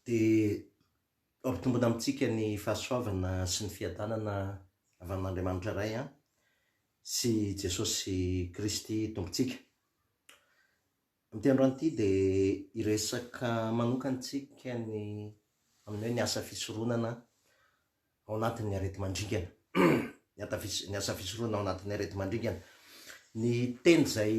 dia ampitombina amintsika ny fahasoavana sy ny fiadanana avy amin'Andriamanitra Ray sy Jesosy Kristy Tompontsika. Amin'ity androany ity dia hiresaka manokana isika ny amin'ny hoe ny asa fisoronana ao anatin'ny areti-mandringana. Ny ata ny asa fisoronana ao anatin'ny areti-mandringana. Ny teny izay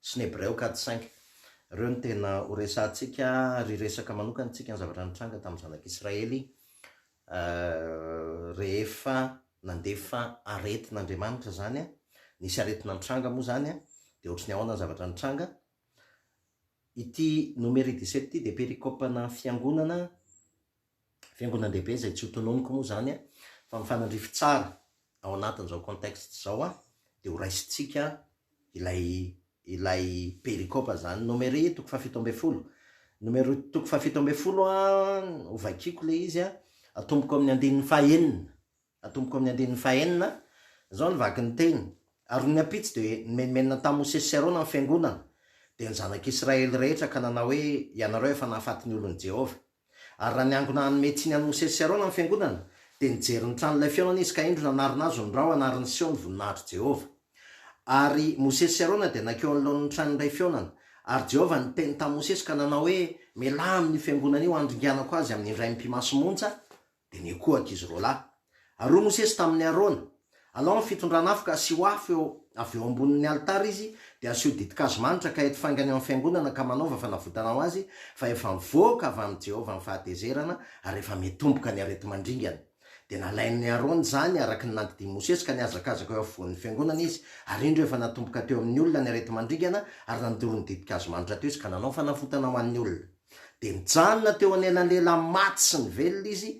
sy ny Hebreo Cad cinq. Ireo no tena ho resahantsika ry resaka manokana antsika ny zavatra nitranga tamin'ny Zanak'i Israely rehefa nandefa aretina Andriamanitra izany an, nisy aretina nitranga moa izany an, dia ohatry ny ahoana ny zavatra nitranga. Ity Nomery dix-sept ity dia perikopana fiangonana Fiangonan-dehibe izay tsy ho tononiko moa izany a! Fa mifanandrify tsara ao anatin'izao contexte izao a! Dia ho raisintsika ilay ilay perikopa izany. Nomery toko fahafito ambin'ny folo. Nomery toko fahafito ambin'ny folo a, hovakiko ilay izy a, atomboko amin'ny andininy fahenina. Atomboka amin'ny andininy fahenina, izao no vaky ny teny, Ary ny ampitso dia nimenomenona tamin'i Mosesy sy Arona ny fiangonana, dia ny zanak'Israely rehetra, ka nanao hoe, Ianareo efa nahafaty ny olon'i Jehovah. Ary raha niangona hanome tsiny an'i Mosesy sy Arona ny fiangonana, dia nijery ny trano ilay fihaonana izy, ka indro nanarina azy ny rao anariny Seho ny voninahitr'i Jehovah. Ary Mosesy sy Arona dia nankeo anoloan'ny trano ilay fihaonana. Ary Jehovah niteny tamin'i Mosesy ka nanao hoe, Mialà amin'io fiangonana io handringanako azy amin'ny indraim-pimasimontsa, Benia koa, ankizy roalahy. Ary hoy Mosesy tamin' i Arona, Alao ny fitondran' afo ka asio afo eo avy eo ambonin' ny alitara izy, dia asio ditin-kazo manitra ka eto faingana eo amin' ny fiangonana ka manaova fanavotana ho azy, fa efa mivoaka avy amin' i Jehovah ny fahatezerana ary efa mitomboka ny areti-mandringana. Dia nalain' i Arona izany araka ny nandidin' i Mosesy ka nihazakazaka eo afovoan' ny fiangonana izy, ary indro efa natomboka teo amin' ny olona ny areti-mandringana, ary nandoro ny ditin-kazo manitra teo izy ka nanao fanavotana ho an' ny olona. Dia nijanona teo anelanelan'ny maty sy ny velona izy,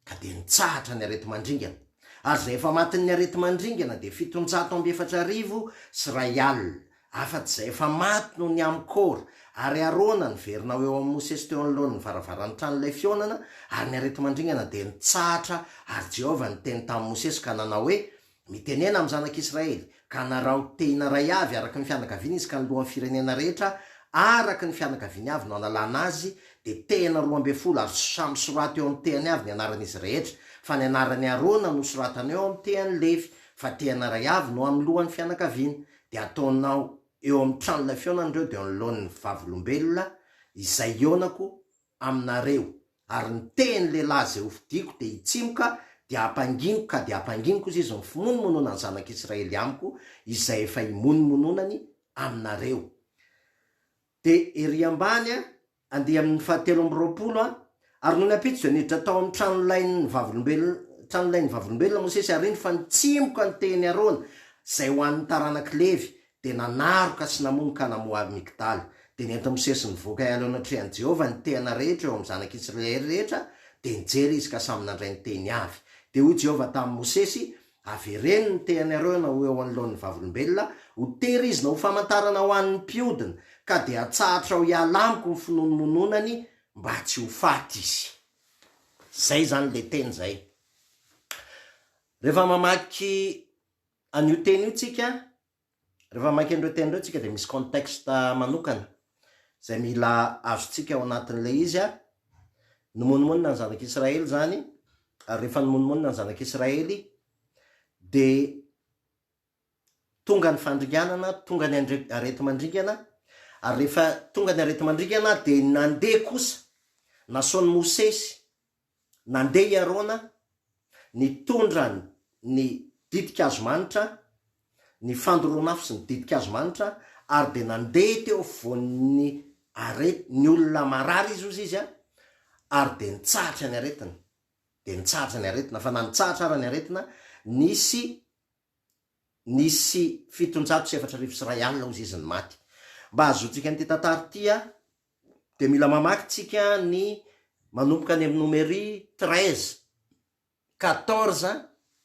ka dia nitsahatra ny areti-mandringana. Ary izay efa matin'ny areti-mandringana dia fitonjato amby efatra arivo sy iray alina, afa-tsy izay efa maty noho ny amy Kora ary Arona niverina ho eo amin'i Mosesy teo anoloan'ny varavaran'ny tranolay fihaonana, ary ny areti-mandringana dia nitsahatra, ary Jehovah niteny tamin'i Mosesy ka nanao hoe, Mitenena amin'ny zanak'Israely, ka anarao, tehina ray avy araka ny fianakaviana izy ka ny lohan'ny firenena rehetra araka ny fianakaviany avy no analana azy, dia tehina roa ambin'ny folo ary samy soraty eo amin'ny tehany avy ny anaran'izy rehetra, fa ny anaran'i Arona no soratana eo amin'ny tehan'i Levy, fa tehina ray avy no amin'ny lohan'ny fianakaviana. Dia ataonao eo amin'ny tranon'ilay fihaonana ireo dia eo anoloan'ny Vavolombelona izay hihaonako aminareo. ary ny tehiny lehilahy izay hofidiako dia hitsimoka, dia hampanginiko ka dia hampanginiko izy, izy mifimonomonona ny zanak'Israely amiko, izay efa himonomononany aminareo. Dia ery ambany an, andeha amin'ny fahatelo amby roapolo an, Ary nony ampitso dia niditra tao amin'ny tranolain'ny vavolombelona, tranolain'ny vavolombelona Mosesy, ary indro fa nitsimoka ny tehiny Arona, izay ho an'ny taranak'i Levy, dia nanaroka sy namono ka namoha avy Migdala. Dia nenti-Mosesy nivoaka hiala eo anatrehan'i Jehovah ny tehana rehetra eo amin'ny zanak'i Isiraely rehetra, dia nijery izy ka samy nandray ny tehiny avy. Dia hoy Jehovah tamin'i Mosesy, Avereno ny tehinareo na ho eo anoloan'ny Vavolombelona, ho tehirizina ho famantarana ho an'ny mpiodina, ka dia atsahatra ho hiala amiko ny finoanomononany mba tsy ho faty izy. Izay izany ilay teny izay. Rehefa mamaky An'io teny io tsika, rehefa maika an'ireo teny ireo tsika dia misy contexte manokana izay mila azontsika ao anatin'ilay izy a, nimonomonona ny zanak'Israely izany, ary rehefa nimonomonona ny zanak'Israely dia tonga ny fandringanana, tonga ny areti-mandringana, ary rehefa tonga ny areti-mandringana dia nandeha kosa, nasaon'i Mosesy Nandeha i Arona, nitondra ny ditin-kazo manitra, ny fandoron'afo sy ny ditin-kazo manitra, ary dia nandeha teo afovoan'ny arety, ny olona marary izy hozy izy, ary dia nitsahatra ny aretina, dia nitsahatra ny aretina, fa na nitsahatra ara ny aretina, nisy. Nisy fitonjato sy efatra arivo sy iray alina hozy izy ny maty. Mba hahazoantsika an'ity tantara ity a, dia mila mamaky tsika ny manomboka any amin'ny nomery treize, quatorze,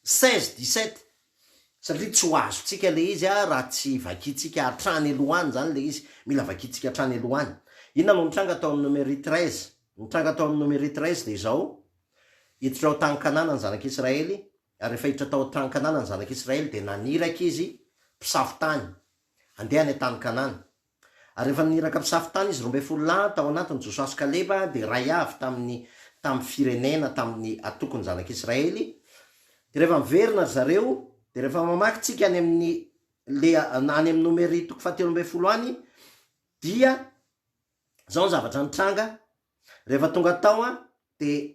seize, dix sept satria tsy ho azontsika ilay izy raha tsy vakintsika hatrany aloha any izany ilay izy, mila vakintsika hatrany aloha any. Inona no nitranga tao amin'ny nomery treize? Ny nitranga tao amin'ny nomery treize dia izao, Hiditra ao tany Kanana ny zanak'Israely, Ary rehefa hiditra tao an-tany Kanana ny Zanak'i Israely, dia naniraka izy mpisafo tany handeha any an-tany Kanana. Ary rehefa naniraka mpisafo tany izy, roa ambin'ny folo lahy, tao anatiny Josoa sy Kaleba, dia iray avy tamin'ny tamin'ny firenena, tamin'ny antokon'ny Zanak'i Israely. Dia rehefa miverina ry zareo, dia rehefa mamaky tsika any amin'ny le any amin'ny Nomery toko fahatelo ambin'ny folo any, dia izao ny zavatra nitranga, rehefa tonga tao dia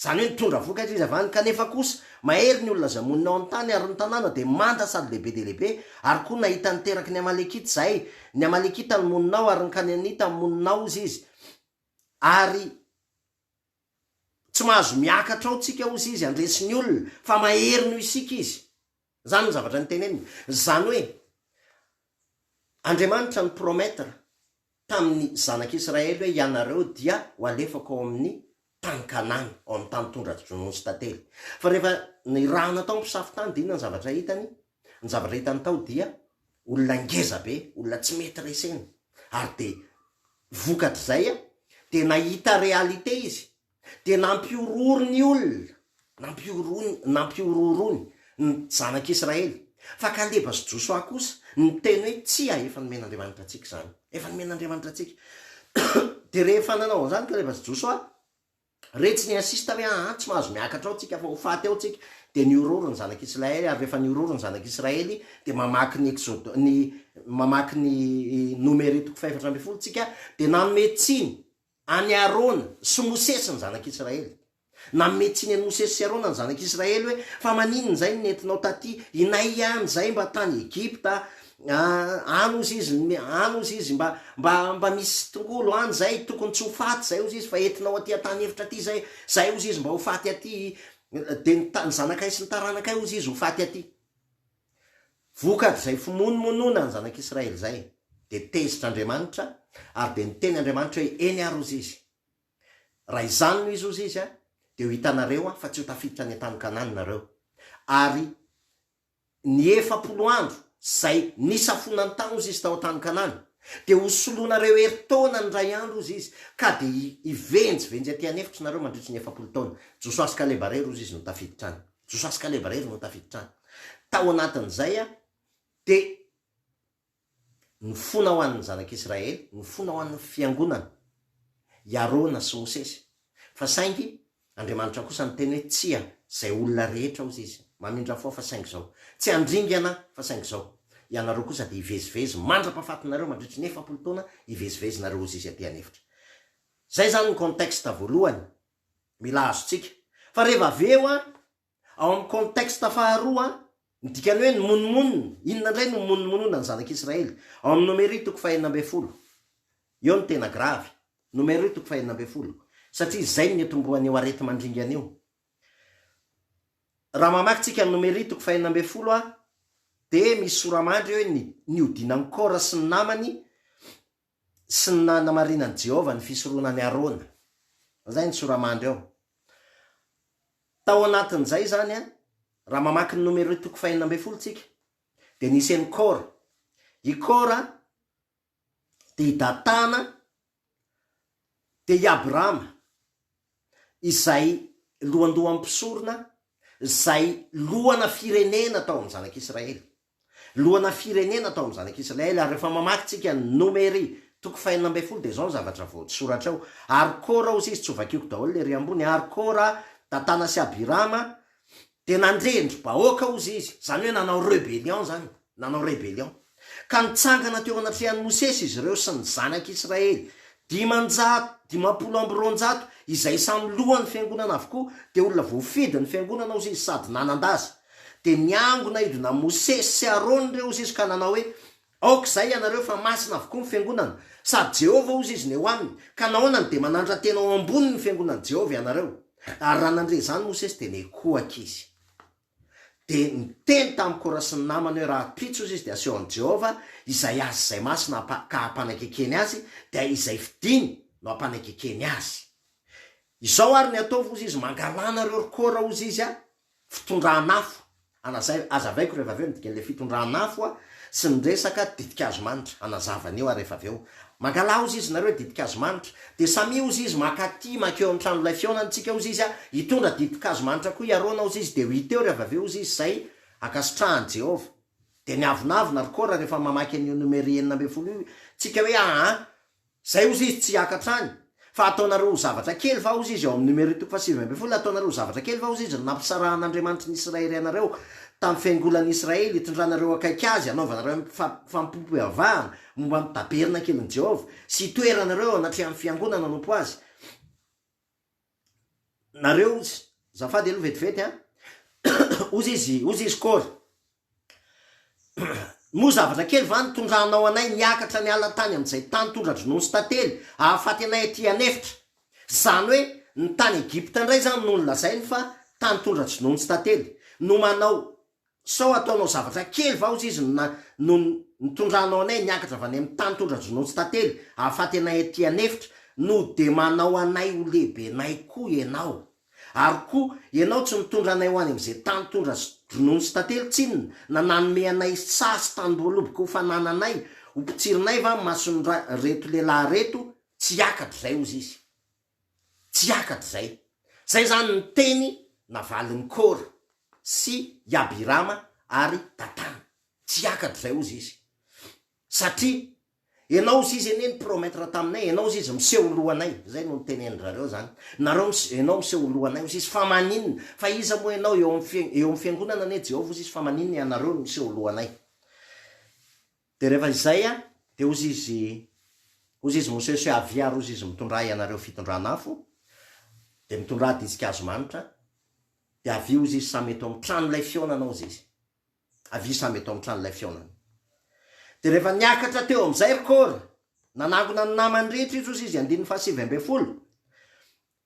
Izany hoe nitondra vokatra izy avy any, kanefa kosa mahery ny olona izay monina ao amin'ny tany, ary ny tanàna dia manta sady lehibe dia lehibe, ary koa nahita ny teraky ny Amalekita izahay, ny Amalekita no monina ao, ary ny Kaneanita no monina ao, hozy izy, ary tsy mahazo miakatra ao tsika, hozy izy, handresy ny olona, fa mahery noho isika izy. Izany ny zavatra niteneniny. Izany hoe, Andriamanitra ni-promettre tamin'ny zanak'i Israely hoe, Ianareo dia ho alefako ao amin'ny tany Kanana, ao amin'ny tany tondra-drononony sy tantely. Fa rehefa nirahana tao ny mpisafo tany, dia inona ny zavatra hitany? Ny zavatra hitany tao dia olona ngeza be, olona tsy mety resena. Ary dia vokatr'izay dia nahita réalité izy. Dia nampihorohoro ny olona, nampihorohony, nampihorohoroany ny Zanak' Israely. Fa Kaleba sy Josoa kosa niteny hoe, Tsia, efa nomen' Andriamanitra antsika izany. Efa nomen' Andriamanitra antsika. Dia rehefa nanao an' izany Kaleba sy Josoa, re tsy ni-insista hoe, Aa, tsy mahazo miakatra ao tsika, fa ho faty ao tsika. Dia nihorohoro ny Zanak' Israely, ary rehefa nihorohoro ny Zanak' Israely, dia mamaky ny Exodo, ny, mamaky ny Nomeri toko fahefatra ambin'ny folo tsika, dia nanome tsiny An'i Arona sy Mosesy ny zanak'Israely. Nanome tsiny an'i Mosesy sy Arona ny zanak'Israely hoe, Fa maninona izay no nentinao tatỳ inay ihany izay mba tany Egypta? Any hozy izy, any hozy izy, mba, mba, mba misy tongolo any izay, tokony tsy ho faty izay hozy izy, fa entinao atỳ an-tany efitra atỳ izay, izay hozy izy mba ho faty atỳ, dia ny, ny zanakay sy ny taranakay hozy izy ho faty atỳ. Vokat'izay fimonomonona ny zanak'Israely izay, dia tezitra Andriamanitra, ary dia niteny Andriamanitra hoe, Eny ary hozy izy. Raha izany no izy hozy izy, dia ho hitanareo aho fa tsy ho tafiditra any an-tany Kanana nareo. Ary ny efapolo andro izay nisafonany tany hozy izy tao an-tany Kanana, dia ho solonareo herintaona ny iray andro hozy izy, ka dia hivenjivenjy aty an'efitry nareo mandritry ny efapolo taona. Josoa sy Kaleba irery hozy izy no tafiditra any. Josoa sy Kaleba irery no tafiditra any. Tao anatin'izay aho dia nifona ho an'ny zanak'Israely, nifona ho an'ny fiangonana, i Arona sy Mosesy. Fa saingy Andriamanitra kosa niteny hoe, Tsia, izay olona rehetra, hozy Izy, mamindra fo aho, fa saingy izao. Tsy handringana aho, fa saingy izao. Ianareo kosa dia hivezivezy mandra-pahafatinareo, mandritry ny efapolo taona hivezivezinareo, hozy Izy, aty an'efitra. Izay izany ny contexte voalohany mila azontsika. Fa reva avy eo an, ao amin'ny contexte faharoa an, ny dikan'ny hoe ny monomonona, inona indray no monomonona ny zanak'Israely? Ao amin'ny Nomery toko fahenina ambin'ny folo. Eo no tena gravy. Nomery toko fahenina ambin'ny folo. Satria izay no nitomboan'io areti-mandringana io. Raha mamaky tsika ny Nomery toko fahenina ambin'ny folo an, dia misy sora-mandry hoe ny nihodinan'i Kora sy ny namany Tsy nanamarinan'i Jehovah ny fisoronan'i Arona. Izay ny tsora-mandry ao. Tao anatin'izay izany, raha mamaky ny Nomeroi toko fahenina ambin'ny folo isika, dia nisy an'i Kora. I Kora dia i Datana, dia i Abirama, izay lohandohan'ny mpisorona, izay lohana firenena tao amin'ny zanak'Israely. lohana firenena tao amin'ny zanak'i Israely, ary rehefa mamaky tsika ny Nomery toko fahenina ambin'ny folo dia izao ny zavatra voasoratra ao, Ary Kora, hoy izy, tsy ho vakiako daholo ny ery ambony, ary Kora, Datana sy Abirama, dia nandre-ndry bahoaka, hoy izy, izany hoe nanao rebellion izany, nanao rebellion, ka nitsangana teo anatrehan'i Mosesy izy ireo sy ny zanak'i Israely, dimanjato, dimampolo amby roanjato, izay samy lohan'ny fiangonana avokoa, dia olona voafidin'ny fiangonana, hoy izy, sady nanan-daza. Dia niangona hidona Mosesy sy Arona ireo hozy izy ka nanao hoe, Aoka izay ianareo fa masina avokoa ny fiangonana, sady Jehovah hozy izy no eo aminy, ka nahoana no dia manandrantena ho ambony ny fiangonan'i Jehovah ianareo? Ary raha nandre izany Mosesy dia nikohaka izy. Dia niteny tamin'i Kora sy ny namany hoe, Rahampitso hozy izy dia aseho an'i Jehovah izay azy izay masina ka hampanakekeny azy, dia izay fidiny no hampanakekeny azy. Izao ary ny ataovy hozy izy, Mangalanareo ry Kora hozy izy, Fitondran'afo, Alazaina, Azavaiko rehefa avy eo ny dikan'ilay fitondran'afo sy ny resaka ditin-kazo manitra. Anazava an'io ary rehefa avy eo mangalaha ozy izy nareo ditin-kazo manitra dia samia ozy izy maka aty mankeo amin'ny tranolay fihaonantsika ozy izy hitondra ditin-kazo manitra koa hiaroana ozy izy dia ho hita eo rehefa avy eo ozy izy izay ankasitrahan'i Jehovah. Dia miavonavona ry Kora rehefa mamaky an'io Nomery enina ambin'ny folo io tsika hoe aa. Izay ozy izy tsy hiaka hatrany. Fa ataonareo zavatra kely va ozy izy ao amin'ny Numeroy toko fahasivy ambin'ny folo, Ataonareo zavatra kely va ozy izy ny nampisarahan'Andriamanitry ny Isiraerianareo tamin'ny fiangolan'ny Isiraely, hitondranareo akaiky Azy, hanaovanareo amim-pifampihavahana momba ny tabernakelin'i Jehovah, sy hitoeranareo eo anatrehan'ny fiangonana hanompo Azy? nareo ozy zafady aloha vetivety an ozy izy ozy izy kôry moa zavatra kely va nitondranao anay niakatra ny ala tany amin'izay tany tondra dronono sy tantely ahafaty anay aty an'efitra zany hoe ny tany egypta indray zany no nolazainy fa tany tondra dronono sy tantely no manao Tsy sao ataonao zavatra kely va ozy izy no no nitondranao anay niakatra avy any amin'ny tany tondra-dronontsy tantely ahafaty anay aty an'efitra? No dia manao anay ho lehibenay koa ianao? Ary koa ianao tsy mitondra anay ho any amin'izay tany tondra sy dronontsy tantely tsinona na nanome anay saha sy tanim-boaloboka ho fanananay, ho mpitsirinay va ny mason'ireto lehilahy ireto tsy hiakatra izay ozy izy. Tsy hiakatra izay. Izay izany ny teny navalin'i Kora sy i Abirama ary Datana. Tsy hiakatra izay hozy izy. Satria Ianao hozy izy anie ni-promettre taminay, Ianao hozy izy miseho ho lohanay. Izay no nitenenindry zareo izany. Nareo mis, Ianao miseho ho lohanay hozy izy. Fa maninona? Fa iza moa Ianao eo amin'ny, eo amin'ny fiangonana anie Jehovah hozy izy, fa maninona Ianareo no miseho ho lohanay? Dia rehefa izay an, dia hozy izy, hozy izy Mosesy hoe, Avia ary hozy izy Mitondraha ianareo fitondran'afo, dia mitondraha ditsink'hazo manitra, dia avia hozy izy samy eto amin'ny tranolay fihaonana hozy izy. Avia samy eto amin'ny tranolay fihaonana. Dia rehefa niakatra teo amin'izay ry Kora, nanangona ny namany rehetra izy hozy izy, andininy fahasivy ambin'ny folo,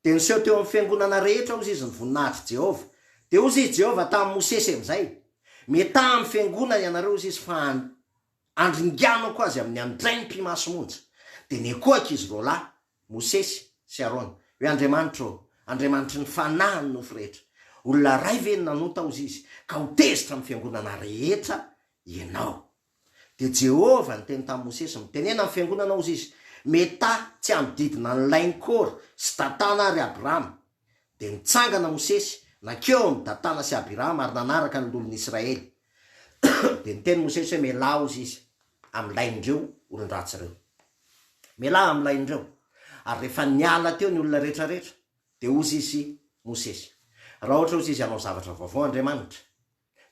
Dia niseho teo amin'ny fiangonana rehetra, hozy izy, ny voninahitr'i Jehovah. Dia hozy i Jehovah tamin'i Mosesy amin'izay, Mitaha amin'ny fiangonana ianareo, hozy izy, fa handringanako azy amin'ny andraikim-pimaso monja. Dia nikohaka izy roalahy, Mosesy sy Arona, hoe, Andriamanitro ô, Andriamanitry ny fanahin'ny nofo rehetra, olona iray ve no nanota, hozy izy, ka ho tezitra amin'ny fiangonana rehetra ianao? Dia Jehovah niteny tamin'i Mosesy, Mitenena amin'ny fiangonana hozy izy, Meta tsy hanodidina an'i Lain Kora sy Datana àry Abirama. Dia nitsangana Mosesy, nankeo amin'i Datana sy Abirama ary nanaraka ny loholon'i Israely. Dia niteny Mosesy hoe, Mialà hozy izy amin'ny lain'ireo olon-dratsy ireo. Mialà amin'ny lain'ireo. Ary rehefa niala teo ny olona rehetra rehetra, dia hozy izy, Mosesy, Raha ohatra hozy izy hanao zavatra vaovao Andriamanitra,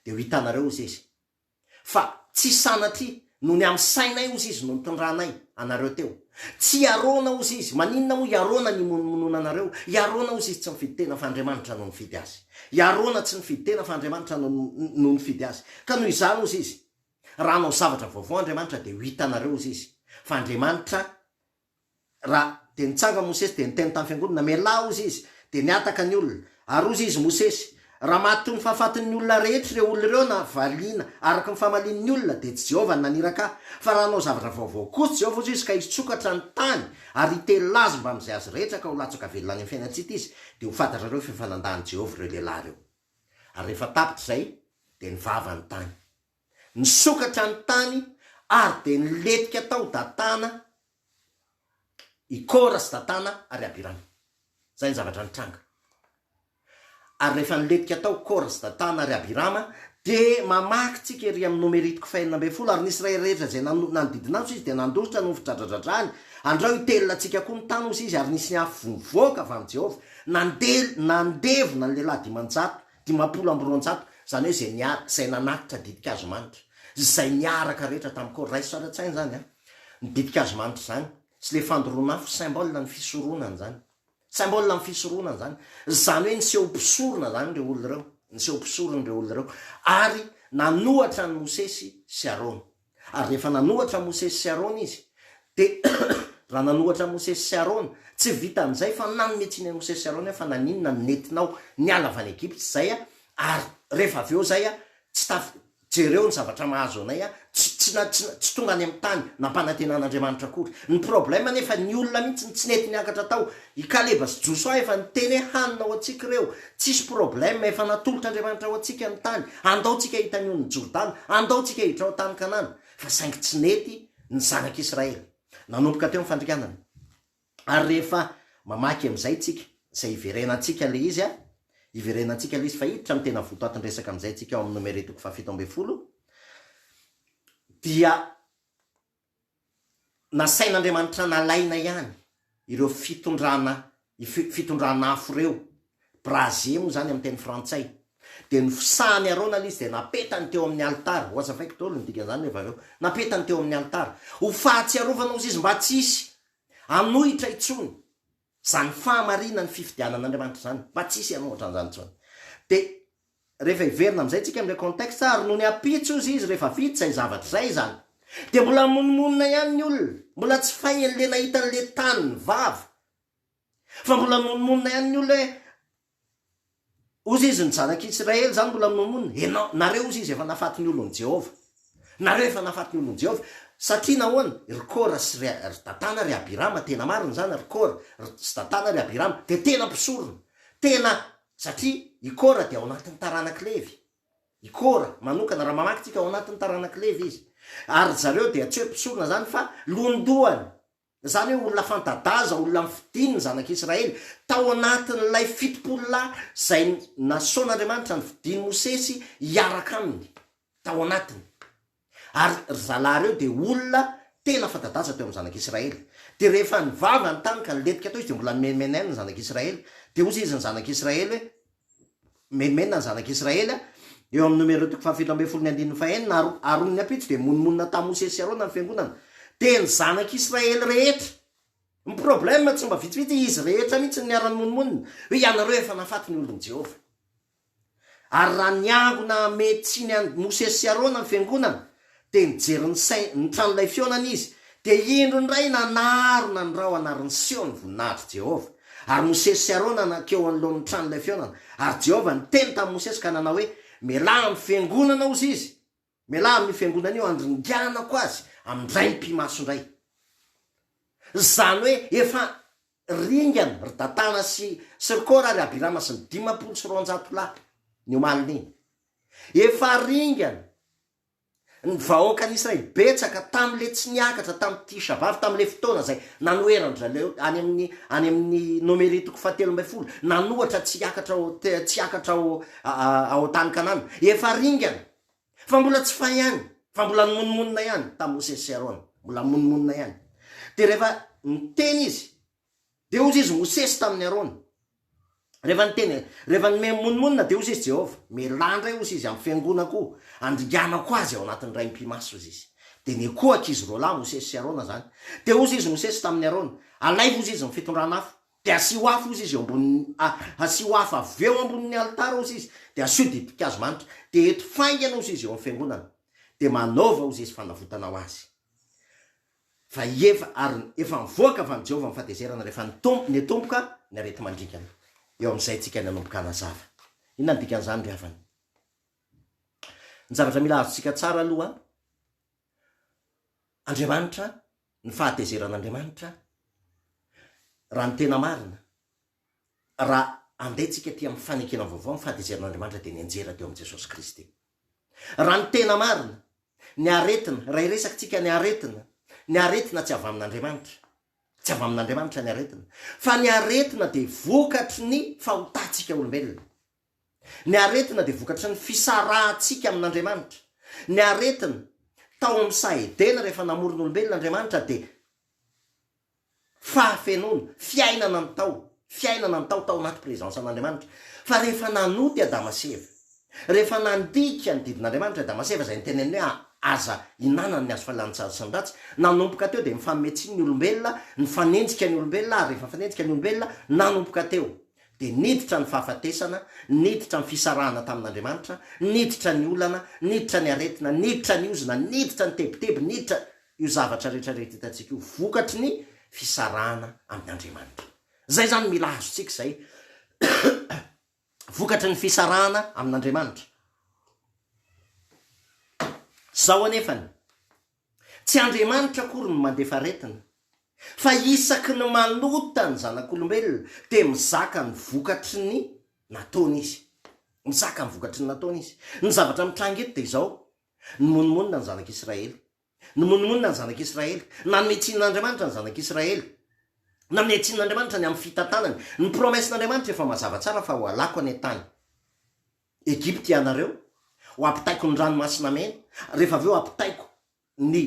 dia ho hitanareo hozy izy, Fa tsy sanatria, noho ny amin'ny sainay ozy izy no nitondranay anareo teo. Tsy hiarona ozy izy. Maninona moa hiarona ny himonomonona anareo? Hiarona ozy izy tsy nifidy tena fa Andriamanitra no nifidy azy. Hiarona tsy nifidy tena fa Andriamanitra no no nifidy azy. Ka noho izany ozy izy, raha hanao zavatra vaovao Andriamanitra dia ho hitanareo ozy izy fa Andriamanitra Ra, dia nitsanga Mosesy dia niteny tamin'ny fiangonana, Mialà hozy izy, dia nihataka ny olona. Ary hozy izy, Mosesy, raha maty toy ny fahafatin'ny olona rehetra ireo olona ireo na valiana araka ny famalian'ny olona, dia tsy Jehovah no naniraka ahy, fa raha hanao zavatra vaovao kosa Jehovah hozy izy ka hitsokatra ny tany ary hitelina azy mbamin'izay azy rehetra ka ho latsaka velona any amin'ny fiainan-tsita izy, dia ho fantatrareo fa efa nandahan'i Jehovah ireo lehilahy ireo. Ary rehefa tapitra izay, dia nivava ny tany. Nisokatra ny tany ary dia nilentika tao Datana i Kora sy Datana ary Abirama. Izay ny zavatra nitranga. Ary rehefa nilentika tao Kora sy Datana ary Abirama, dia mamaky tsika ery amin'ny nomeritiko fahenina ambin'ny folo, Ary ny Israely rehetra izay nanodidina azy hoy izy dia nandositra noho ny fidradradradrany, Andrao hitelina antsika koa ny tany hoy izy, ary nisy ny afo vovoaka avy amin'i Jehovah, nandevona ny lehilahy dimanjato Dimampolo amby roanjato, izany hoe izay niara, izay nanatitra ditin-kazo manitra, izay niaraka rehetra tamin'i Kora. Raiso ara-tsaina izany an! Ny ditin-kazo manitra izany, sy ilay fandoroan'afo, symbole ny fisoronana izany. Symbole ny fisoronana izany. Izany hoe niseho mpisorona izany ireo olona ireo, niseho mpisorona ireo olona ireo, ary nanohatra an'i Mosesy sy Arona. Ary rehefa nanohatra Mosesy sy Arona izy, dia raha nanohatra Mosesy sy Arona, tsy vitan'izay fa nanome tsiny an'i Mosesy sy Arona hoe fa naninona no nentinao niala avy any Egypta izay aho, ary rehefa avy eo izay aho tsy taf, jereo ny zavatra mahazo anay aho, tsy, tsy, tsy, tsy tonga any amin'ny tany nampanantenan'Andriamanitra akory. Ny problème anefa ny olona mihitsy no tsy nety niakatra tao, I Kaleba sy Josoa efa niteny hoe hanina ho antsika ireo, tsisy problème, efa natolotr'Andriamanitra ho antsika ny tany, andao tsika hita ny onin'i Jordana, andao tsika hiditra ao tany Kanana. Fa saingy tsy nety ny zanak'Israely. Nanomboka teo ny fandringanana. Ary rehefa mamaky amin'izay tsika, izay hiverenantsika ilay izy, hiverenantsika ilay izy fa hiditra amin'ny tena votoatin-dresaka amin'izay tsika ao amin'ny Nomery toko fahafito ambin'ny folo, dia. Nasain'Andriamanitra nalaina ihany ireo fitondrana fitondran'afo ireo, brasier moa izany amin'ny teny frantsay, dia ny fisahan'i Arona aloha izy dia napetany teo amin'ny alitara, wazavaiko daholo ny dikan'izany rehefa avy eo, napetany teo amin'ny alitara ho fahatsiarovana hozy izy mba tsy hisy hanohitra intsony. Izany fahamarinan'ny fifidianan'Andriamanitra izany, mba tsy hisy ianao ohatran'izany intsony. Dia rehefa heverina amin'izay tsika amin'ilay contexte, ary nony ampitso ozy izy rehefa vita izay zavatra izay izany, dia mbola mimonomonona ihany ny olona, mbola tsy fay an'ilay nahita an'ilay tany ny vava, fa mbola mimonomonona ihany ny olona hoe Hozy izy, Ny Zanak' i Isiraely izany mbola mamonina, ianao, nareo, hozy izy, efa nahafaty ny olon' i Jehovah. Nareo efa nahafaty ny olon' i Jehovah. Satria nahoana? Ry Kora sy ry ry Datana ry Abirama, tena marina izany, ry Kora, ry sy Datana ry Abirama, dia tena mpisorona. Tena, satria i Kora dia ao anatin'ny taranak'i Levy. I Kora manokana, raha mamaky tsika, ao anatin'ny taranak'i Levy izy. Ary ry zareo dia tsy hoe mpisorona izany fa londohany. Izany hoe olona fanta-daza, olona nofidiny ny Zanak'i Israely, tao anatin'ilay fitopolo lahy izay nasaon'Andriamanitra nofidin'i Mosesy hiaraka aminy tao anatiny. Ary ry zalahy ireo dia olona tena fanta-daza teo amin'ny Zanak'i Israely. Dia rehefa nivavany tany ka nilentika tao izy dia mbola nomenimenen' ny Zanak'i Israely. Dia hozy izy ny Zanak'i Israely hoe. Mimenomenona ny Zanak'i Israely a! Eo amin'ny Nomerô toko fahafito ambin'ny folo ny andininy fahenina, Aro, aron'ny ampitso dia monomonona tamin'i Mosesy sy Arona ny Fiangonana. Dia ny Zanak'i Israely rehetra. Ny problème tsy mba vitsivitsy, izy rehetra mihitsy no niara-nimonomonona. Hoe ianareo efa nahafaty ny olon'i Jehovah. Ary raha niangona hamehy tsiny an'i Mosesy sy Arona ny Fiangonana, Dia nijery ny sain, ny tranolay fihaonana izy, dia indro indray nanarona ny rahona ary niseho ny voninahitr' Jehovah. Ary Mosesy sy Arona nankeo anoloan' ny tranolay fihaonana, ary Jehovah niteny tamin'i Mosesy ka nanao hoe, Mialahy amin'ny fiangonana, hozy izy, mialahy amin'io fiangonana io, handringanako azy amin-draim-pimaso indray. Izany hoe efa ringana ry Datana sy, sy ry Kora ary Abirama sy ny dimampolo sy roanjato lahy, ny omalin'iny. Efa ringana. Ny vahoakan'i Israely betsaka tamin'ilay tsy niakatra tamin'i Tisha B'Av, tamin'ilay fotoana izay nanoheran-dry zareo any amin'ny any amin'ny Nomeria toko fahatelo ambin'ny folo, nanohatra tsy hiakatra ao te- tsy hiakatra ao ao tany Kanana. Efa ringana, fa mbola tsy fay ihany, fa mbola nimonomonona ihany tamin'i Mosesy sy Arona, mbola nimonomonona ihany. Dia rehefa niteny izy Dia hozy izy Mosesy tamin'i Arona, rehefa niteny, rehefa nome mimonomonona, dia hozy izy Jehovah, Mielà indray, hozy izy, amin'ny fiangonako, handringanako azy ao anatin'ny raim-pimasy, hozy izy. Dia nekoaka izy roa lahy, Mosesy sy Arona, izany. Dia hozy izy Mosesy tamin'i Arona, Alaivo, hozy izy, ny fitondrana afo, dia asio afo, hozy izy, eo ambonin'ny, a, asio afo avy eo ambonin'ny alitara, hozy izy, dia asio didim-pikazo manitra, dia eto faingana, hozy izy, eo amin'ny fiangonana, dia manaova, hozy izy, fanavotana ho azy. fa efa ary efa mivoaka avy amin'i Jehovah ny fahatezerana rehefa nitombo, niantomboka ny areti-mandringana. Eo amin'izay isika no hanomboka hanazava. Inona no dikan'izany ry havana? Ny zavatra mila azontsika tsara aloha, Andriamanitra, ny fahatezeran'Andriamanitra, raha ny tena marina, raha handeha antsika aty amin'ny fanekena vaovao, ny fahatezerana Andriamanitra dia nianjera teo amin'i Jesosy Kristy. Raha ny tena marina, ny aretina, raha hiresakitsika ny aretina, ny aretina tsy avy amin'Andriamanitra. Tsy avy amin'Andriamanitra ny aretina. Fa ny aretina dia vokatry ny fahotantsika olombelona. Ny aretina dia vokatry ny fisarahantsika amin'Andriamanitra. Ny aretina, tao amin'ny saha Edena rehefa namoron'olombelona Andriamanitra dia Fahafenoana, fiainana ny tao, fiainana ny tao tao anaty présence an'Andriamanitra. Fa rehefa nanoa i Adama sy Eva, rehefa nandika ny didin'Andriamanitra i Adama sy Eva izay niteneniny hoe aza ihinanana ny hazo fahalalana tsara sy ny ratsy, nanomboka teo dia nifanome tsiny ny olombelona, nifanenjika ny olombelona ary rehefa nifanenjika ny olombelona, nanomboka teo dia niditra ny fahafatesana, niditra ny fisarahana tamin'Andriamanitra, niditra ny olana, niditra ny aretina, niditra ny ozona, niditra ny tebiteby, niditra. Io zavatra rehetra rehetra hitantsika io vokatry ny fisarahana amin' Andriamanitra. Izay izany mila azontsika izay vokatry ny fisarahana amin' Andriamanitra. Izao anefany, tsy Andriamanitra akory no mandefa aretina, fa isaky ny manota ny zanak' olombelona dia mizaka ny vokatry ny nataony Izy. Mizaka ny vokatry ny nataony Izy. Ny zavatra mitranga eto dia izao, Nimonomonona ny Zanak'i Israely. Nimonomonona ny Zanak'i Israely. Nanome tsiny an'Andriamanitra ny Zanak'i Israely. Nanome tsiny an'Andriamanitra ny amin'ny fitantanany. Ny promesse-n'Andriamanitra efa mazava tsara fa hohalako any an-tany Egypte ianareo, hoampitaiko ny Ranomasina Mena, rehefa avy eo hampitaiko ny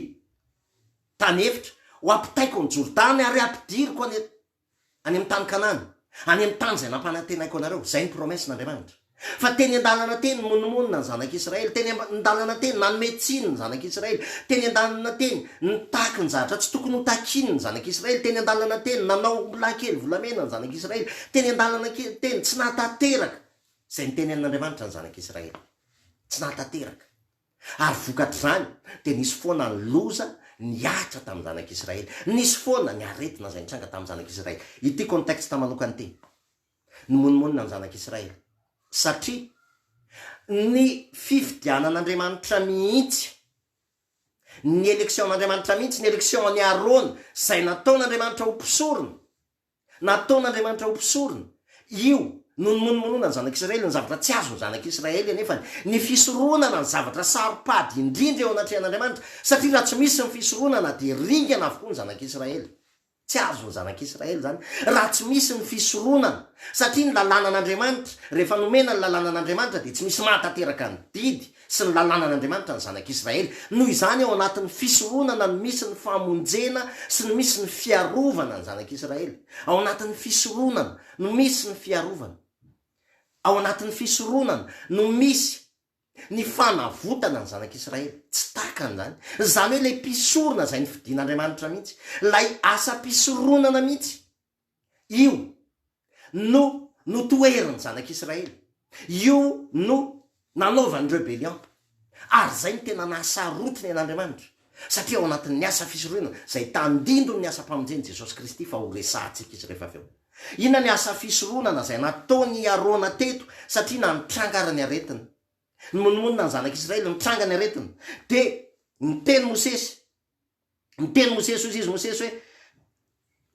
Tany Efitra, hoampitaiko ny Jordany ary hampidiriko any Any amin'ny tany Kanana, any amin'ny tany izay nampanantenaiko anareo. Izay ny promesse n'Andriamanitra. Fa teny an-dalana teny nimonomonona ny zanak'Israely, teny an-dalana teny nanome tsiny ny zanak'Israely, teny an-dalana teny nitaky ny zavatra tsy tokony ho takiany ny zanak'Israely, teny an-dalana teny nanao ombilahy kely volamena ny zanak'Israely, teny an-dalana teny tsy nahatanteraka izay notenenin'Andriamanitra ny zanak'Israely. Tsy nahatanteraka. Ary vokatr'izany, dia nisy foana ny loza nihatra tamin'ny zanak'Israely. Nisy foana ny aretina izay nitranga tamin'ny zanak'Israely. Ity contexte manokana ity. Nimonomonona ny zanak'Israely. Satria ny fifidianan'Andriamanitra mihitsy, ny election-n'Andriamanitra mihitsy, ny election-n'i Arona, izay nataon'Andriamanitra ho mpisorona, Nataon'Andriamanitra ho mpisorona. Io no nimonomononan'ny zanak'i Israely ny zavatra tsy azon'ny zanak'i Israely anefany, ny fisoronana ny zavatra saro-pady indrindra eo anatrehan'Andriamanitra, satria raha tsy misy ny fisoronana dia ringana avokoa ny zanak'i Israely. Tsy azon'ny zanak'i Israely izany raha tsy misy ny fisoronana, satria ny lalànan'Andriamanitra, rehefa nomena ny lalànan'Andriamanitra dia tsy misy mahatanteraka ny didy sy ny lalànan'Andriamanitra ny zanak'Israely. Noho izany, ao anatin'ny fisoronana no misy ny famonjena sy no misy ny fiarovana ny zanak'Israely. Ao anatin'ny fisoronana no misy ny fiarovana. Ao anatin'ny fisoronana no misy ny fanavotana ny zanak'Israely. Tsy takany izany. Izany hoe ilay mpisorona izay nofidin'Andriamanitra mihitsy. Ilay asam-pisoronana mihitsy. Io no notoherin'ny zanak'Israely. Io no nanaovany rebellion. Ary izay no tena nahasarotiny an'Andriamanitra. Satria ao anatin'ny asa fisorohina izay tandindon'ny asam-pamonjen'i Jesosy Kristy fa ho resahantsika izy rehefa avy eo. Inona ny asa fisoronana izay nataon' i Arona teto satria na nitranga ary ny aretina. Nimonomonona ny zanak'Israely, nitranga ny aretina. Dia niteny Mosesy. Niteny Mosesy, hoy izy Mosesy hoe,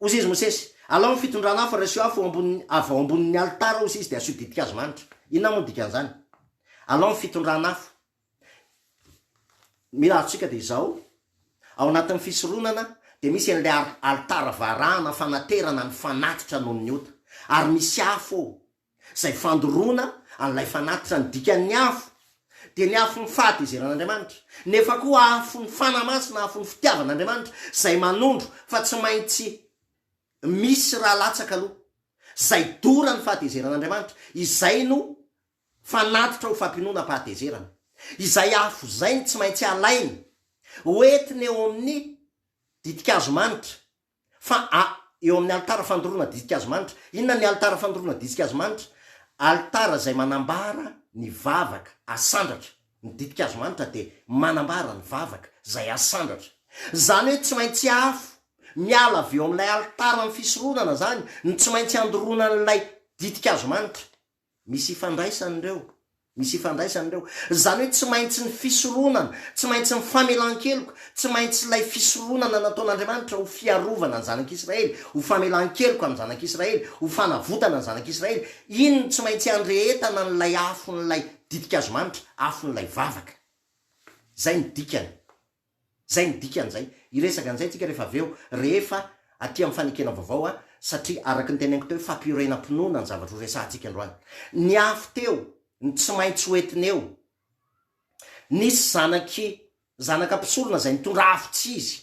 hoy izy Mosesy, Alao ny fitondrana afo ary asio afo eo ambonin'ny, avy ao ambonin'ny alitara, hoy izy, dia asio ditin-kazo manitra. Inona moa ny dikan'izany? Alao ny fitondrana afo. Mila azontsika dia izao, ao anatin'ny fisoronana dia misy an'ilay ar- alitara varahana fanaterana ny fanatitra noho ny ota, ary misy afo ao, Izay fandoroana an'ilay fanatitra ny dikan'ny afo dia ny afon'ny fahatezeran'Andriamanitra, nefa koa afon'ny Fanahy Masina, afon'ny fitiavan'Andriamanitra, izay manondro fa tsy maintsy misy raha latsaka aloha, izay doran'ny fahatezeran'Andriamanitra, izay no fanatitra ho fampinoanam-pahatezerana. Izay afo izay no tsy maintsy alaina, hoentina eo amin'ny ditin-kazo manitra, Fa a, eo amin'ny alitara fandoroana ditsika Azy manitra. Inona ny alitara fandoroana ditsika Azy manitra? Alitara izay manambara ny vavaka asandratra. Ny dipika Azy manitra dia manambara ny vavaka izay asandratra. Izany hoe tsy maintsy afo miala avy eo amin'ilay alitaran'ny fisoronana izany no tsy maintsy andoroana an'ilay ditsika Azy manitra. Misy ifandraisany ireo. Misy ifandraisany ireo. Izany hoe tsy maintsy ny fisoronana, tsy maintsy ny famelan-keloka, tsy maintsy ilay fisoronana nataon'Andriamanitra ho fiarovana ny zanak'Israely, ho famelan-keloka ny zanak'Israely, ho fanavotana ny zanak'Israely, iny no tsy maintsy andrehetana an'ilay afon'ilay ditin-kazomanitra, afon'ilay vavaka. Izay no dikany. Zay ny dikan'izay. Hiresaka an'izay tsika rehefa avy eo, rehefa aty amin'ny fanekena vaovao an, satria araka ny teneniko teo, fampiorenam-pinoana ny zavatra ho resahantsika androany. Ny afo teo, ny tsy maintsy ho entiny eo. Nisy zanak'i, zanaka mpisorona izay nitondra afo tsy izy.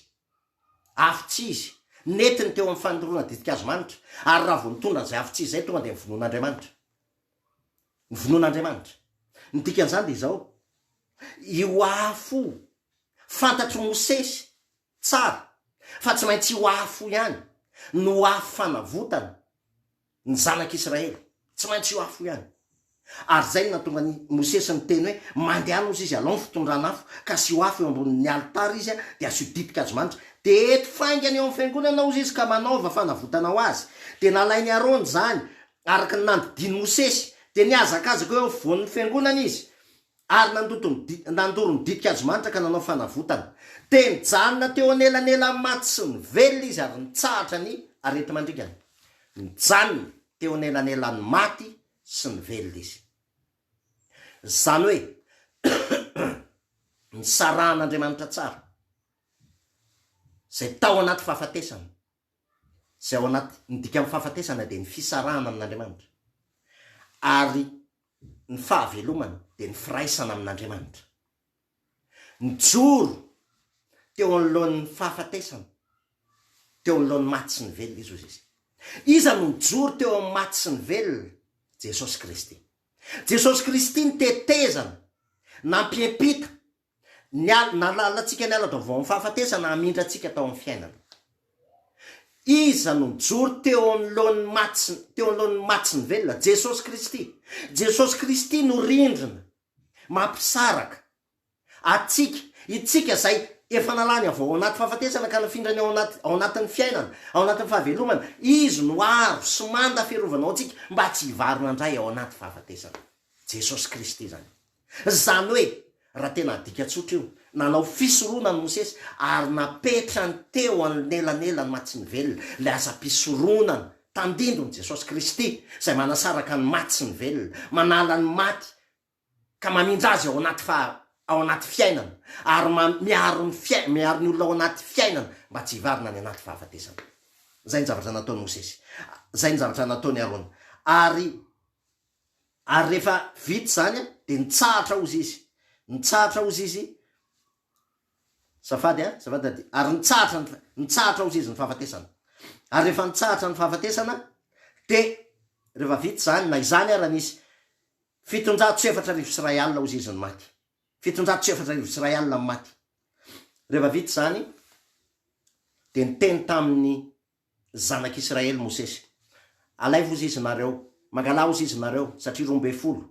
Afo tsy izy. Nentiny teo amin'ny fanondroana ditin-kazo manitra. Ary raha vao nitondra an'izay afo tsy izy izay, tonga dia nivonoana Andriamanitra. Ny vonoan'Andriamanitra. Ny dikan'izany dia izao, io afo fantatr'i Mosesy tsara fa tsy maintsy io afo ihany no afo fanavotana ny zanak'Israely, tsy maintsy io afo ihany. Ary izay no nahatonga an'i Mosesy niteny hoe, Mandehana ozy izy, alao ny fitondran'afo, ka asio afo eo ambonin'ny alitara izy, dia asio ditin-kazo manitra, dia eto faingana eo amin'ny fiangonana ozy izy, ka manaova fanavotana ho azy. Dia nalain'i Arona izany, Araka ny nandidian'i Mosesy, dia nihazakazaka eo afovoan'ny fiangonana izy, ary nandoto ny di, nandoro ny ditin-kazomanitra ka nanao fanavotana. Dia nijanona teo anelanelan'ny maty sy ny velona izy ary nitsahatra ny areti-mandringana. Nijanona teo anelanelan'ny maty sy ny velona izy. Izany hoe, nisarahan'Andriamanitra tsara izay tao anaty fahafatesana. izay ao anaty ny dikan'ny fahafatesana dia ny fisarahana amin'Andriamanitra ary ny fahavelomana dia ny firaisana amin'Andriamanitra. Nijoro teo anoloan'ny fahafatesana, teo anoloan'ny maty sy ny velona izy hoy izy. Iza no nijoro teo amin'ny maty sy ny velona? Jesosy Kristy. Jesosy Kristy ny tetezana nampiampita Ny ala, nahalala antsika ny ala-baovao amin'ny fahafatesana hamindra antsika tao amin'ny fiainana. Iza no nijoro teo anoloan'ny maty, teo anoloan'ny maty sy ny velona? Jesosy Kristy. Jesosy Kristy no rindrina mampisaraka antsika, itsika izay efa nalany avy ao anaty fahafatesana ka nafindrany ao anaty, ao anatin'ny fiainana, ao anatin'ny fahavelomana. Izy no aro sy manda fiarovana ho antsika mba tsy hivarina indray ao anaty fahafatesana. Jesosy Kristy izany. Izany hoe, raha tena adika tsotra io, nanao fisoronana i Mosesy ary napetrany teo anelanelan'ny maty sy ny velona, ilay asam-pisoronana tandindon'i Jesosy Kristy izay manasaraka ny maty sy ny velona, manala ny maty ka mamindra azy ao anaty fa ao anaty fiainana ary ma miaro ny fiai miaro ny olona ao anaty fiainana mba tsy hivarina any anaty fahafatesana. Izay ny zavatra nataon'i Mosesy. Izay ny zavatra nataon'i Arona. Ary. Ary rehefa vita izany dia nitsahatra ozy izy. Nitsahatra ozy izy. Azafady a, azafady Dady. Ary nitsahatra ny, nitsahatra ozy izy ny fahafatesana. Ary rehefa nitsahatra ny fahafatesana dia rehefa vita izany, na izany ara nisy, fitonjato sy efatra arivo sy iray alina ozy izy no maty. Fitonjato sy efatra arivo sy iray alina no maty. Rehefa vita izany dia niteny tamin'ny Zanak' Israely Mosesy. Alaivo ozy izy nareo, mangalà ozy izy nareo, satria roa mbe folo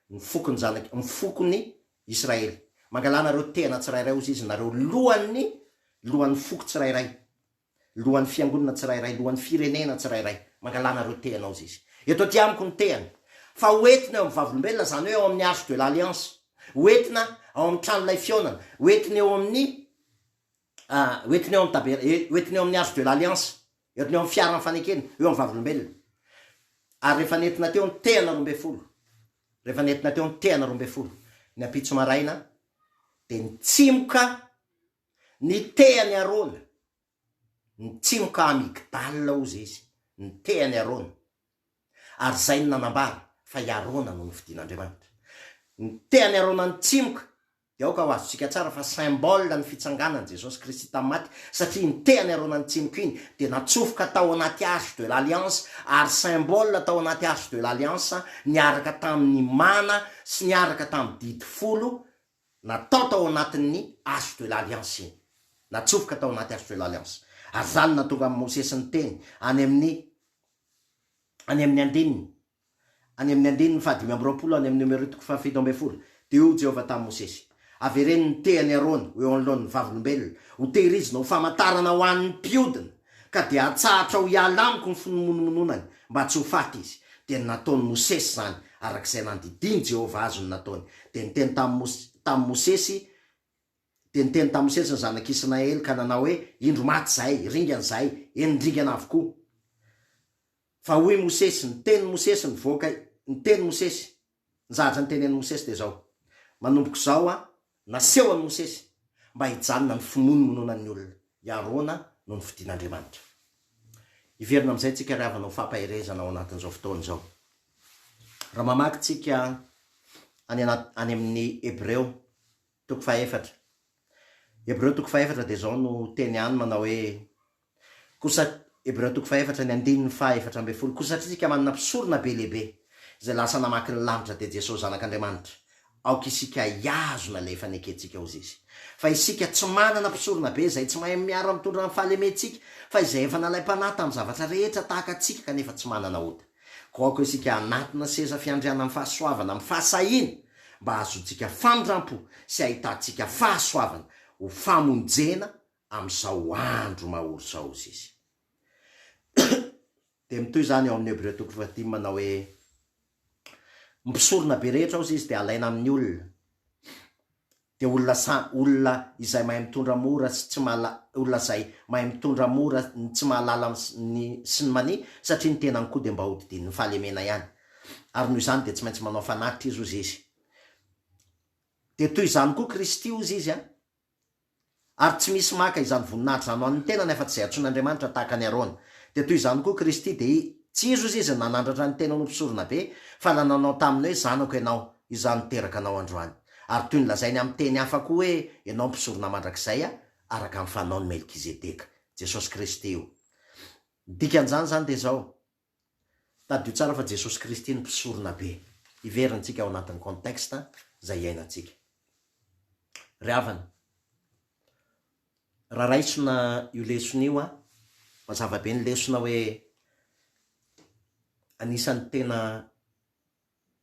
ny fokon' zanak' ny fokon' ny Israely. Mangalà nareo tehana tsirairay ozy izy nareo, lohan' ny lohan' ny foko tsirairay, lohan' ny fiangonana tsirairay, lohan' ny firenena tsirairay, mangalà nareo tehana ozy izy. Eto aty amiko ny tehany, fa ho entina eo amin' ny Vavolombelona, izany hoe ao amin' ny Arche de l' Alliance, ho entina ao amin' ny Trano Ilay Fihaonana, ho entina eo amin' ny. hoentiny eo amin'ny taber-, hoentiny eo amin'ny arche de l'alliance, hoentiny eo amin'ny fiaran'ny fanekena, eo amin'ny Vavolombelona. Ary rehefa nentina teo ny tehana roa ambin'ny folo, rehefa nentina teo ny tehana roa ambin'ny folo, ny ampitso maraina, dia nitsimoka ny tehan'i Arona, nitsimoka amygdale hozy izy, ny tehan'i Arona. Ary izay no nanambara fa i Arona no nofidin'Andriamanitra. Ny tehan'i Arona nitsimoka, Dia aoka ho azontsika tsara fa symbole ny fitsanganan'i Jesosy Kristy tamin'ny maty, satria iny tehany aroana ny tsiniko iny dia natsofoka tao anaty arche de l'alliance, ary symbole tao anaty arche de l'alliance niaraka tamin'ny mana sy niaraka tamin'ny didy folo natao tao anatin'ny arche de l'alliance iny. Natsofoka tao anaty arche de l'alliance. Ary izany no nahatonga an'i Mosesy niteny any amin'ny any amin'ny andininy Any amin'ny andininy fahadimy amby roapolo any amin'ny nomerotoko fahafito ambin'ny folo, dia hoy Jehovah tamin'i Mosesy, Avereno ny tehan'i Arona ho eo anoloany ny Vavolombelona, ho tehirizina ho famantarana ho an'ny mpiodina, ka dia hatsahatra ho hiala amiko ny finomonomononany, mba tsy ho faty izy. Dia nataon'i Mosesy izany, araka izay nandidian'i Jehovah azy no nataony. Dia niteny tamin'i Mosesy Dia niteny tamin'i Mosesy ny zanak'i Isinaely, ka nanao hoe, Indro maty izahay, ringana izahay, eny ringana avokoa. Fa hoy Mosesy, ny tenin'i Mosesy nivoaka, ny tenin'i Mosesy, ny zavatra notenenin'i Mosesy dia izao, Manomboka izao Aho, naseho an'i Mosesy, mba hijanona ny finoany minoana ny olona, i Arona no nofidin'Andriamanitra. Hiverina amin'izay tsika ry havana ho fampaherezana ao anatin'izao fotoana izao. Raha mamaky tsika any anaty, any amin'ny Hebreo, toko fahaefatra. Hebreo toko fahaefatra dia izao no teny any manao hoe, Koa sat. Hebreo toko fahefatra ny andininy faha efatra ambin'ny folo Koa satria isika manana mpisorona be lehibe, izay lasa namaky ny lanitra, dia Jesosy Zanak'Andriamanitra, aoka isika hihazona ilay efa nekentsika ho izy. Fa isika tsy manana mpisorona be izay tsy mahay miara-mitondra ny fahalementsika, fa izay efa nalaim-panahy tamin'ny zavatra rehetra tahaka antsika kanefa tsy manana ota. Koa aoka isika hanatona seza fiandrianana amin'ny fahasoavana amin'ny fahasahiana, mba hahazoantsika famindrampo sy hahitantsika fahasoavana ho famonjena amin'izao andro mahory izao, hoy izy. Dia mitohy izany ao amin'ny Hebreo toko fahadimy manao hoe, Ny mpisorona be rehetra, hoy izy, dia alaina amin'ny olona, dia olona sa, olona izay mahay mitondra mora sy tsy mahala, olona izay mahay mitondra mora ny tsy mahalala ny sy ny mania, satria ny tenany koa dia mba hodidian'ny fahalemena ihany. Ary noho izany dia tsy maintsy manao fanatitra izy, hoy izy. Dia toy izany koa Kristy, hoy izy, Ary tsy misy maka izany voninahitra izany ho an'ny tenany afa-tsy izay antsoin'Andriamanitra tahaka an'i Arona. Dia toy izany koa Kristy, dia tsy izy ozy izy nanandratra ny tenany ho mpisoronabe, fa ilay nanao taminy hoe zanako ianao, izaho niteraka anao androany. Ary toy ny lazainy amin'ny teny hafa koa hoe ianao mpisorona mandrakizay araka ny fanaon'i Melkizedeka. Jesosy Kristy io. Ny dikan'izany izany dia izao. Tadidio tsara fa Jesosy Kristy no mpisorona be. Hiverina tsika ao anatin'ny contexte izay iainantsika. Ry havana, raha raisina io lesona io an, mazava be ny lesona hoe anisan'ny tena.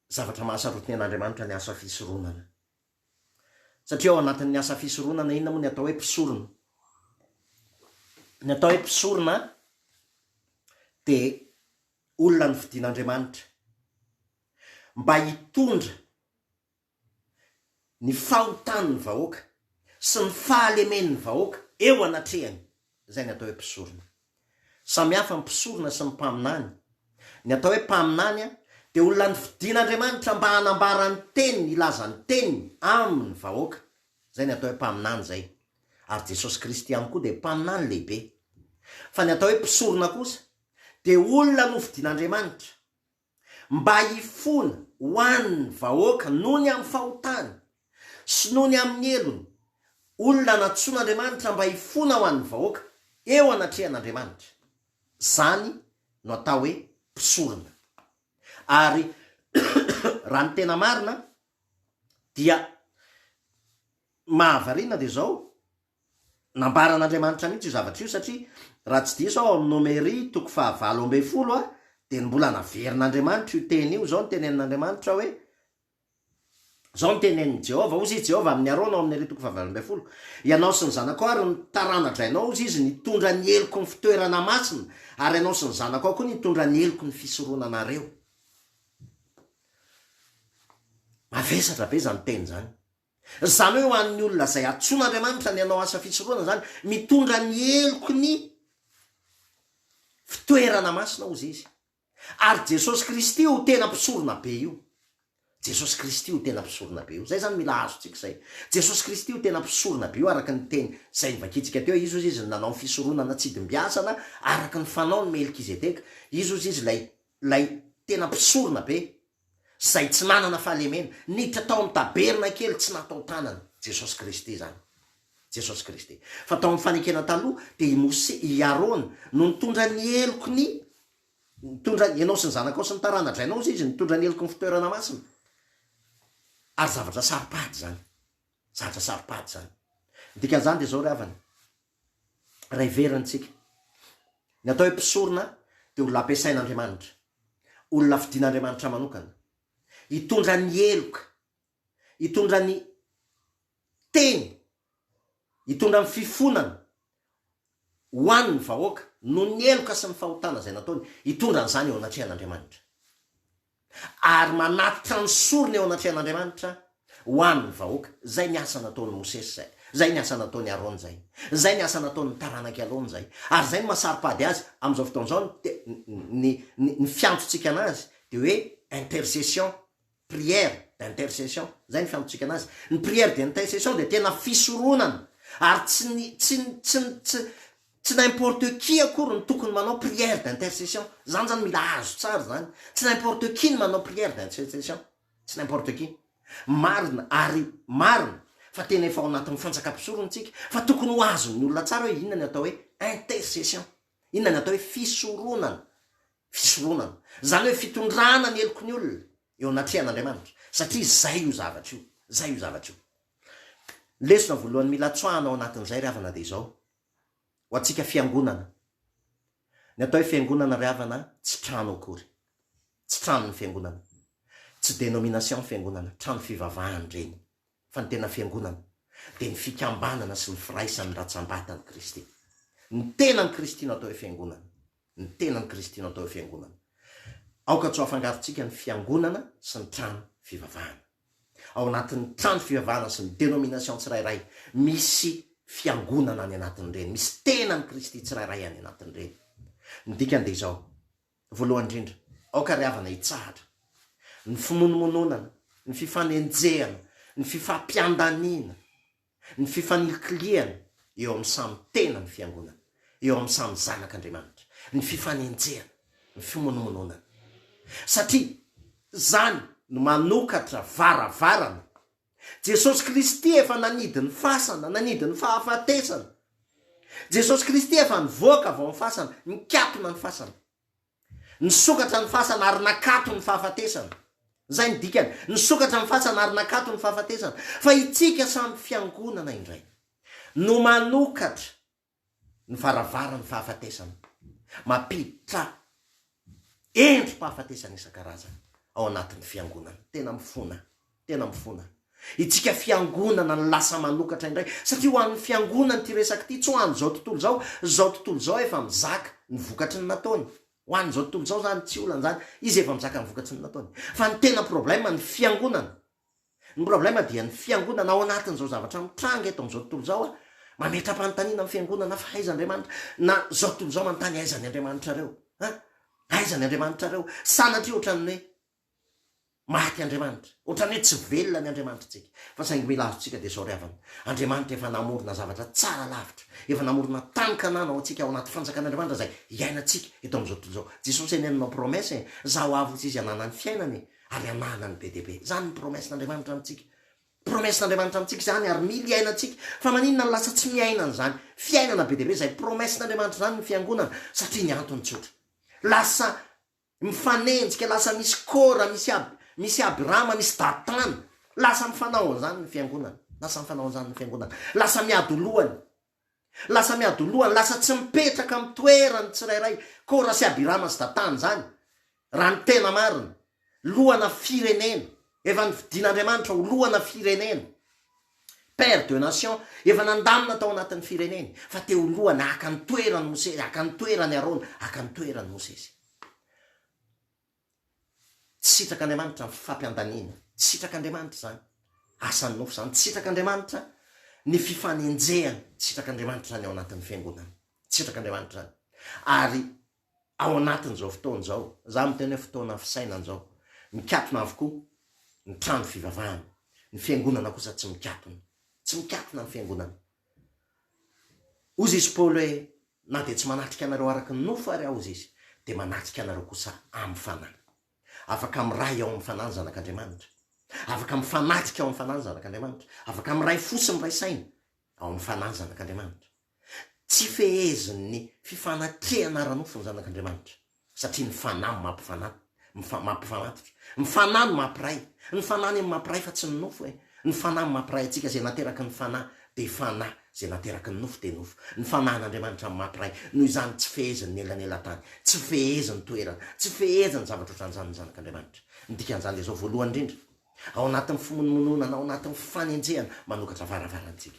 zavatra mahasarotiny an'Andriamanitra ny asa fisoronana. Satria ao anatin'ny asa fisoronana, inona moa ny atao hoe mpisorona? Ny atao hoe mpisorona dia olona nofidian'Andriamanitra mba hitondra ny fahotan'ny vahoaka sy ny fahalemen'ny vahoaka eo anatrehany, izay ny atao hoe mpisorona. Samy hafa ny mpisorona sy ny mpaminany, ny atao hoe mpaminany dia olona nofidin'Andriamanitra mba hanambara ny teniny, hilaza ny teniny amin'ny vahoaka, izay ny atao hoe mpaminany izay, ary Jesosy Kristy ihany koa dia mpaminany lehibe. Fa ny atao hoe mpisorona kosa dia olona nofidin'Andriamanitra. Mba hifona ho an' ny vahoaka noho ny amin'ny fahotany, sy noho ny amin'ny helony, olona nantsoin' Andriamanitra mba hifona ho an' ny vahoaka, eo anatrehan' Andriamanitra. Izany no atao hoe mpisorona. Ary raha ny tena marina dia mahavariana dia izao, Nambaran'Andriamanitra mihitsy io zavatra io satria raha tsy diso aho ao amin'ny Nomery toko fahavalo ambin'ny folo a, dia mbola naverin'Andriamanitra io teny io, izao no tenenin'Andriamanitra hoe, izao no tenenin'i Jehovah, hozy i Jehovah amin'i Arona ao amin'ny Nomery toko fahavalo ambin'ny folo, Ianao sy ny zanakao ary ny tarana-drainao, hozy izy, nitondra ny heloko ny fitoerana masina, ary ianao sy ny zanakao koa nitondra ny heloko ny fisoronanareo. Mavesatra be izany teny izany. Izany hoe ho an'ny olona izay antsoin'Andriamanitra ny hanao asa fisorohana izany, mitondra ny heloky ny fitoerana masina hozy izy. Ary Jesosy Kristy io tena mpisorona be io. Jesosy Kristy io tena mpisorona be io. Izay izany mila azontsika izay. Jesosy Kristy io tena mpisorona be io araka ny teny izay novakintsika teo. Izy hozy izy no nanao ny fisoronana tsy dimbiasana araka ny fanaon'i Melkizedeka. Izy hozy izy ilay, ilay tena mpisorona be izay tsy nanana fahalemena, niditra tao amin'ny tabernakely tsy natao tanana, Jesosy Kristy izany. Jesosy Kristy. Fa tao amin'ny Fanekena Taloha, dia i Mose, i Arona, no nitondra ny heloky ny, nitondra, ianao sy ny zanakao sy ny tarana-drainao hozy izy, nitondra ny heloky ny fitoerana masina. Ary zavatra saro-pady izany. Zavatra saro-pady izany. Ny dikan'izany dia izao ry havana, Raha heverintsika, ny atao hoe mpisorona dia olona ampiasain'Andriamanitra, olona fidin'Andriamanitra manokana, hitondra ny heloka, hitondra ny Teny, hitondra ny fifonana ho an'ny vahoaka, noho ny heloka sy ny fahotana izay nataony, hitondra an'izany eo anatrehan'Andriamanitra. ary manatitra ny sorona eo anatrehan'Andriamanitra ho an'ny vahoaka. Izay ny asa nataon'i Mosesy izay, izay ny asa nataon'i Arona izay, izay ny asa nataon'ny taranak'i Alona izay, ary izay no maha saro-pady azy amin'izao fotoana izao, ny te, ny, ny, ny fiantontsika anazy dia hoe intercession, prière d'intercession, izay ny fiantontsika anazy. Ny prière d'intercession dia tena fisoronana, ary tsy ny, tsy ny, tsy ny, tsy. Tsy n'importe qui akory no tokony manao prière d'intercession. Izany izany mila azo tsara izany. Tsy n'importe qui no manao prière d'intercession. Tsy n'importe qui. Marina ary marina fa tena efa ao anatin'ny fantsakam-pisorona isika fa tokony ho azon'ny olona tsara hoe inona ny atao hoe intercession. Inona ny atao hoe fisoronana. Fisoronana. Izany hoe fitondrana ny heloky ny olona eo anatrehan'Andriamanitra. Satria izay io zavatra io. Izay io zavatra io. Lesona voalohany mila tsoahina ao anatin'izay ry havana dia izao. ho antsika fiangonana. Ny atao hoe fiangonana ry havana tsy trano akory. Tsy trano ny fiangonana. Tsy dénomination ny fiangonana, trano fivavahana ireny. Fa ny tena fiangonana dia ny fikambanana sy ny firaisan'ny ratsambatan'i Kristy. Ny tenan'i Kristy no atao hoe fiangonana. Ny tenan'i Kristy no atao hoe fiangonana. Aoka tsy ho afangarontsika ny fiangonana sy ny trano fivavahana. Ao anatin'ny trano fivavahana sy ny denomination tsirairay, misy fiangonana any anatin'ireny, misy tenan'i Kristy tsirairay any anatin'ireny. Ny dikany dia izao, voalohany indrindra, aoka ry havana hitsahatra ny fimonomononana, ny fifanenjehana, ny fifampiandaniana. Ny fifanilikilihana eo amin'ny samy tenan'ny Fiangonana, eo amin'ny samy zanak'Andriamanitra, ny fifanenjehana, ny fimonomononana. Satria izany no manokatra varavarana. Jesosy Kristy efa nanidy ny fasana, nanidy ny fahafatesana. Jesosy Kristy efa nivoaka avy ao amin'ny fasana, nikatona ny fasana. Nisokatra ny fasana ary nakato ny fahafatesana. Izay no dikany. Nisokatra ny fasana ary nakato ny fahafatesana. Fa itsika samy fiangonana indray no manokatra ny varavaran'ny fahafatesana. Mampiditra endri-pahafatesana isan-karazany ao anatin'ny fiangonana. Tena mifona. Tena mifona itsika fiangonana ny lasa manokatra indray satria ho an'ny fiangonana ity resaka ity tsy ho an'izao tontolo izao, izao tontolo izao efa mizaka ny vokatry ny nataony, ho an'izao tontolo izao izany tsy olana izany, izy efa mizaka ny vokatry ny nataony fa ny tena problème ny fiangonana, ny problème dia ny fiangonana ao anatin'izao zavatra mitranga eto amin'izao tontolo izao, mametra-panontaniana ny fiangonana fa aiza Andriamanitra, na izao tontolo izao manontany aiza ny Andriamanitrareo? an? Aiza ny Andriamanitrareo? Sanatria ohatran'ny hoe. Maty Andriamanitra. Ohatran'ny hoe tsy velona ny Andriamanitritsika. Fa saingy mila azontsika dia soaviavana. Andriamanitra efa namorona zavatra tsara lavitra. Efa namorona tany Kanana ho antsika ao anaty fanjakan'Andriamanitra izay iainantsika eto amin'izao tontolo izao. Jesosy anie nanao promesse e. Za ho avy hozy izy hanana ny fiainana e. Ary hanana ny be dia be. Zany ny promessen'Andriamanitra amintsika. Promessen'Andriamanitra amintsika izany ary mila iainantsika. Fa maninona no lasa tsy miaina an'izany fiainana be dia be izay promessen'Andriamanitra izany ny fiangonana? Satria ny antony tsotra. Lasa. Mifanenjika, lasa misy Kora, misy Ab, misy Abirama, misy Datana. Lasa mifanao an'izany ny Fiangonana. Lasa mifanao an'izany ny Fiangonana. Lasa miadolohany. Lasa miadolohany, lasa tsy mipetraka amin'ny toerany tsirairay, Kora sy Abirama sy Datana izany, raha ny tena marina. Lohana firenena. Efa nofidian'Andriamanitra ho lohana firenena. Père de nation, efa nandamina tao anatin'ny fireneny, fa te ho loha na haka ny toeran'i Mosesy, haka ny toeran'i Arona, haka ny toeran'i Mosesy. Tsy sitrak'Andriamanitra ny fampiandaniana, tsy sitrak'Andriamanitra izany, asan'ny nofo izany, tsy sitrak'Andriamanitra ny fifanenjehana, tsy sitrak'Andriamanitra izany ao anatin'ny fiangonana, tsy sitrak'Andriamanitra izany. Ary ao anatin'izao fotoana izao, za miteny hoe fotoana fisainana izao, mikatona avokoa ny trano fivavahana, ny fiangonana kosa tsy mikatona, tsy mikatona ny fiangonana. Hozy izy Paoly hoe, na dia tsy manatrika anareo araka ny nofo ary aho hozy izy, dia manatrika anareo kosa amin'ny fanahy. Afaka miray ao amin'ny fanahy ny zanak'Andriamanitra. Afaka mifanatrika ao amin'ny fanahy ny zanak'Andriamanitra. Afaka miray fo sy miray saina ao amin'ny fanahy ny zanak'Andriamanitra. Tsy fehezin'ny fifanatrehana ara-nofo ny zanak'Andriamanitra, satria ny Fanahy no mampifanahy, mifa, mampifanatitra. Ny Fanahy no mampiray. Ny Fanahy anie no mampiray fa tsy ny nofo e. Ny Fanahy no mampiray antsika, izay nateraky ny Fanahy dia Fanahy, izay nateraky ny nofo dia nofo. Ny Fanahin'Andriamanitra no mampiray, noho izany tsy fehezin'ny elanelan-tany, tsy fehezin'ny toerana, tsy fehezin'ny zavatra ohatran'izany ny zanak'Andriamanitra. Ny dikan'izany dia izao, voalohany indrindra, ao anatin'ny fimonomononana, ao anatin'ny fanenjehana, manokatra varavarantsika.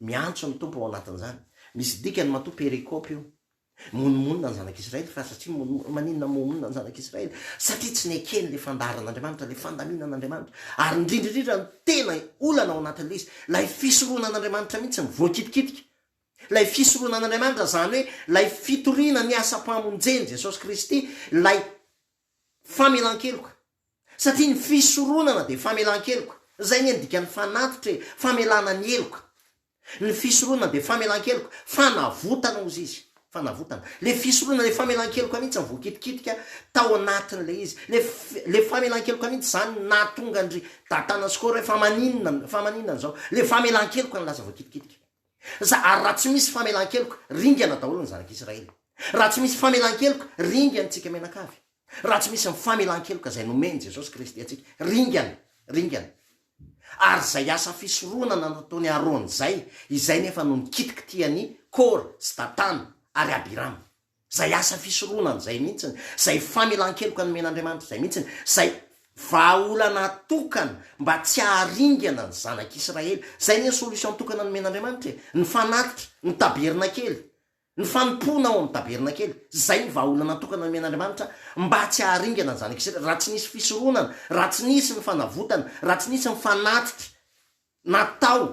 Miantso ny Tompo ao anatin'izany. Misy dikany matoa perikope io. Monomonona ny zanak'Israely fa satria monomonona. Maninona monomonona ny zanak'Israely? Satria tsy nekeny ilay fandaharan'Andriamanitra, ilay fandaminan'Andriamanitra. Ary indrindra indrindra ny tena olana ao anatin'ilay izy, ilay fisorohana an'Andriamanitra mihitsy no voakitikitika. Ilay fisorohana an'Andriamanitra izany hoe ilay fitoriana ny asam-pamonjen'i Jesosy Kristy, ilay famelan-keloka. Satria ny fisoronana dia famelan-keloka. Izay anie ny dikan'ny fanatitra e, famelana ny heloka. Ny fisoronana dia famelan-keloka, fanavotana hozy izy, fanavotana. Ilay fisoronana, ilay famelan-keloka mihitsy voakitikitika tao anatin'ilay izy. Ilay, ilay famelan-keloka mihitsy izany nahatonga an-dry Datana sy Kora hoe fa maninona, fa maninona izao. Ilay famelan-keloka no lasa voakitikitika. Za, ary raha tsy misy famelan-keloka, ringana daholo ny zanak'Israely. Raha tsy misy famelan-keloka, ringan'ny tsika mianakavy. Raha tsy misy ny famelan-keloka izay nomen'i Jesosy Kristy antsika, ringana, ringana. Ary izay asa fisoronana nataon'i Arona izay, izay nefa no nikitikitihan'i Kora sy Datana ary Abirama. Izay asa fisoronana izay mihitsiny, izay famelan-keloka nomen'Andriamanitra izay mihitsiny, izay vahaolana tokana mba tsy haharingana ny zanak'Israely. Izay anie ny solution tokana nomen'Andriamanitra e, ny fanatitra, ny tabernakely. Ny fanompoana ao amin'ny tabernakely, izay ny vahaolana natokana nomen'Andriamanitra mba tsy haharingana ny zanak'i Israely, raha tsy nisy fisoronana, raha tsy nisy ny fanavotana, raha tsy nisy ny fanatitra natao,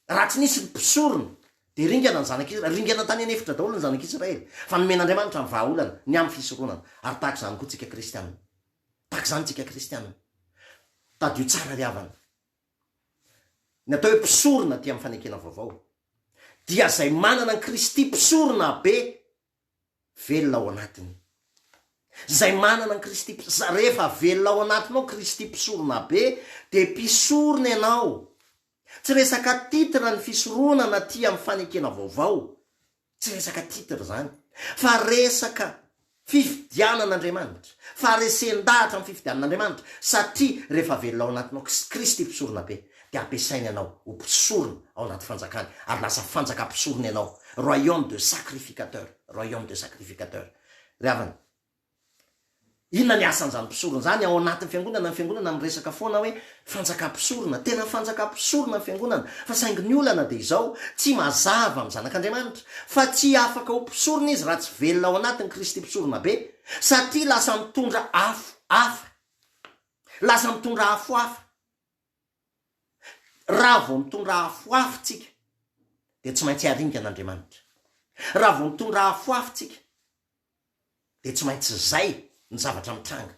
raha tsy nisy ny mpisorona, dia ringana ny zanak'i Israely. Ringana tany an'efitra daholo ny zanak'i Israely, fa nomen'Andriamanitra ny vahaolana ny amin'ny fisoronana. Ary tahaka izany koa isika kristianina. Tahaka izany isika kristianina. Tadidio tsara ry havana. Ny atao hoe mpisorona aty amin'ny fanekena vaovao, dia izay manana an'i Kristy mpisorona be velona ao anatiny. Izay manana an'i Kristy, rehefa velona ao anatinao Kristy mpisorona be, dia mpisorona ianao. Tsy resaka titre ny fisorohana na tia amin'ny fanekena vaovao, tsy resaka titre izany, fa resaka Fifidianan'Andriamanitra. Faharesen-dahatra ny fifidianan'Andriamanitra satria rehefa velona ao anatinao Kristy Mpisorona Be dia ampiasainy anao ho mpisorona ao anaty fanjakany ary lasa fanjaka mpisorona ianao, royaume de sacrificateur, royaume de sacrificateur. Ry havana, inona ny asan'izany mpisorona izany ao anatin'ny Fiangonana? Ny Fiangonana miresaka foana hoe Fanjaka mpisorona, tena fanjaka mpisorona ny fiangonana, fa saingy ny olana dia izao, tsy mazava amin'ny zanak'Andriamanitra, fa tsy afaka ho mpisorona izy raha tsy velona ao anatin'i Kristy mpisorona be, satria lasa mitondra afo hafa, lasa mitondra afo hafa, raha vao mitondra afo hafa tsika, dia tsy maintsy aringan'Andriamanitra, raha vao mitondra afo hafa tsika, dia tsy maintsy izay ny zavatra mitranga.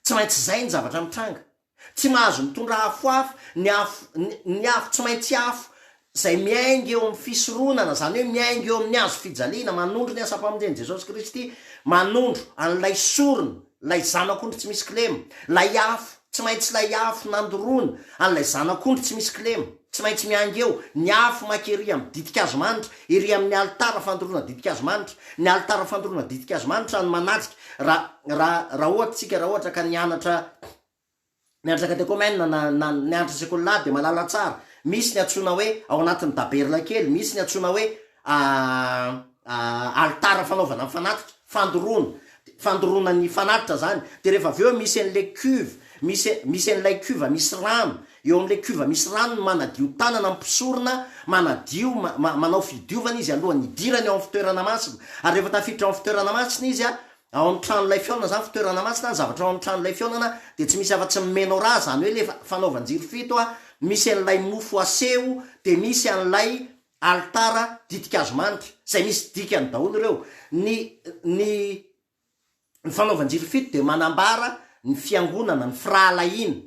Tsy maintsy izay ny zavatra mitranga. Tsy mahazo mitondra afo hafa, ny afo, ny, ny afo tsy maintsy afo izay miainga eo amin'ny fisoronana, izany hoe miainga eo amin'ny hazo fijaliana, manondro ny asam-pamonjen'i Jesosy Kristy, manondro an'ilay sorona. Ilay zanak'ondry tsy misy kilema. Ilay afo, tsy maintsy ilay afo nandoroana an'ilay zanak'ondry tsy misy kilema. Tsy maintsy miainga eo ny afo maika ery amin'ny ditin-kazo manitra, ery amin'ny alitara fandoroana ditin-kazo manitra. Ny alitara fandoroana ditin-kazo manitra no manajika. Raha, raha, raha ohatra, tsika raha ohatra ka nianatra. Ny andraikitra de commun na na ny andrisako ny lahy de mahalala tsara, misy ny antsoina hoe ao anatin'ny daberla kely, misy ny antsoina hoe alitara fanaovana ny fanatitra, fandoroana, de fandoroana ny fanatitra zany, de rehefa avy eo misy an'le cuve, misy misy an'ilay cuve misy rano, eo amin'le cuve misy rano no manadio tanana ny mpisorona, manadio ma- ma- manao fidiovana izy alohan'ny hidirany ao amin'ny fitoerana masina, ary rehefa tafiditra ao amin'ny fitoerana masina izy a, Ao amin'ny tranolay fihaonana izany fitoerana masina ny zavatra ao amin'ny tranolay fihaonana dia tsy misy afa-tsy ny menorah izany hoe ilay fanaovan-jiro fito a, misy an'ilay mofo aseho dia misy an'ilay alitara ditin-kazo manitra izay misy dikany daholo ireo. Ny ny ny fanaovan-jiro fito dia manambara ny fiangonana, ny firahalahiana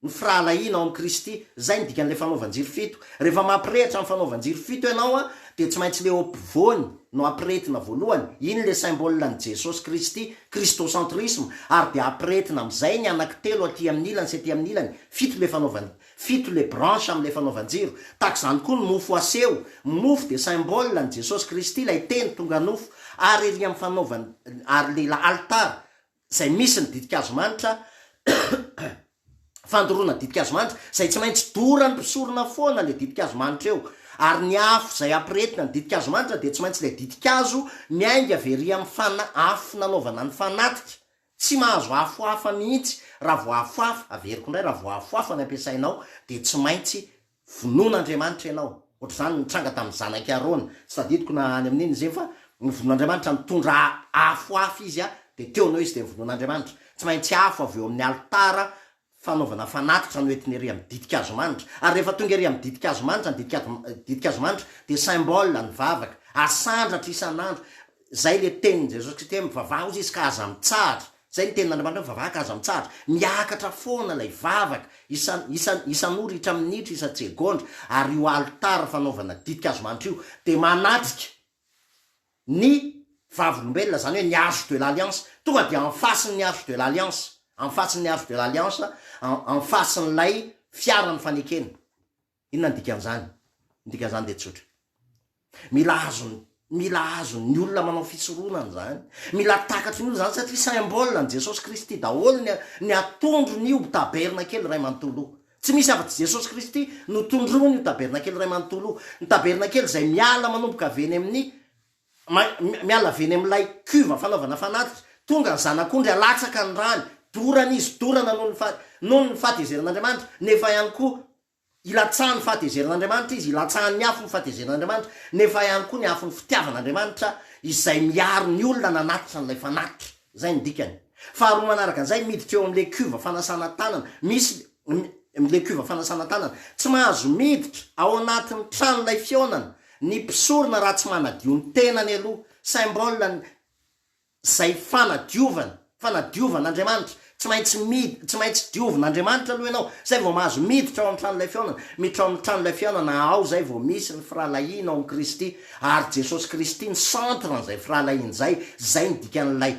Ny firahalahiana ao amin'i Kristy, izay no dikan'ilay fanaovan-jiro fito. Rehefa mampirehitra ny fanaovan-jiro fito ianao, dia tsy maintsy ilay eo ampovoany no ampirehetina voalohany. Iny ilay symbole an'i Jesosy Kristy, Christocentrisme, ary dia ampirehetina amin'izay ny anaky telo aty amin'ny ilany sy aty amin'ny ilany. Fito ilay fanaovan, fito ilay branche amin'ilay fanaovan-jiro. Tahaka izany koa ny mofo aseho. Ny mofo dia symbole an'i Jesosy Kristy, ilay Teny tonga nofo, ary ery amin'ny fanaovan, ary ilay altar, izay misy ny ditin-kazo manitra, fandoroana ditin-kazo manitra, izay tsy maintsy doran'ny mpisorona foana ilay ditin-kazo manitra eo, ary ny afo izay ampirehetina ny ditin-kazo manitra dia tsy maintsy ilay ditin-kazo miainga very amin'ny fana, afo nanaovana ny fanatika, tsy mahazo afo hafa mihitsy, raha vao afo hafa, averiko indray, raha vao afo hafa ny ampiasainao dia tsy maintsy Vonoin'Andriamanitra ianao. Ohatr'izany nitranga tamin'ny zanak'i Arona. Tsy tadidiko na any amin'inona izy iny fa novonoin'Andriamanitra. Nitondra afo hafa izy dia teo no izy dia novonoin'Andriamanitra. Tsy maintsy afo avy eo amin'ny alitara fanaovana fanatitra no entina ery amin'ny ditin-kazo manitra. Ary rehefa tonga ery amin'ny ditin-kazo manitra ny ditin-kazo manitra dia symbole ny vavaka. Asandratra isan'andro. Izay ilay tenin'i Jesosy Kristy hoe mivavaha hozy izy ka aza mitsahatra. Izay ny tenin'Andriamanitra, vavaka aza mitsahatra. Miakatra foana ilay vavaka, isan, isan, isan'ora, itraminitra, isan-tsegondra, ary io alitara fanaovana ditin-kazo manitra io dia manatrika ny Vavolombelona, izany hoe ny Arche de l'Alliance, tonga dia en face-n'ny Arche de l'Alliance, en face-n'ny Arche de l'Alliance, en, en face-n'ilay Fiaran'ny fanekena. Inona ny dikan'izany? Ny dikan'izany dia tsotra. Mila azon'ny mila azon'ny olona manao fisoronana izany. Mila takatry ny olona izany satria symbole an'i Jesosy Kristy daholo ny ny atondron'io tabernakely iray manontolo io. Tsy misy afa-tsy Jesosy Kristy no tondroiny io tabernakely iray manontolo io. Ny tabernakely izay miala manomboka avy eny amin'ny miala avy eny amin'ilay cuve fanaovana fanatitra, tonga ny zanak'ondry alatsaka ny rany, dorana izy, dorana noho ny noho ny fahatezeran'Andriamanitra, nefa ihany koa Ilatsahan'ny fahatezeran'Andriamanitra izy, ilatsahan'ny afo ny fahatezeran'Andriamanitra, nefa ihany koa ny afon'ny fitiavan'Andriamanitra izay miaro ny olona nanatitra an'ilay fanatitra. Izay no dikany. Faharoa manaraka an'izay, miditra eo amin'ilay cuve fanasana tanana. Misy ilay cuve fanasana tanana. Tsy mahazo miditra ao anatin'ny tranolay fihaonana ny mpisorona raha tsy manadio ny tenany aloha. Symbole ny. Izay fanadiovana, fanadiovan' Andriamanitra. Tsy maintsy mid, tsy maintsy diovin' Andriamanitra aloha ianao, izay vao mahazo miditra ao amin'ny tranolay fihaonana. Miditra ao amin'ny tranolay fihaonana ao izay vao misy ny firahalahianao amin'i Kristy, ary Jesosy Kristy no centre an'izay firahalahiana izay, izay ny dikan'ilay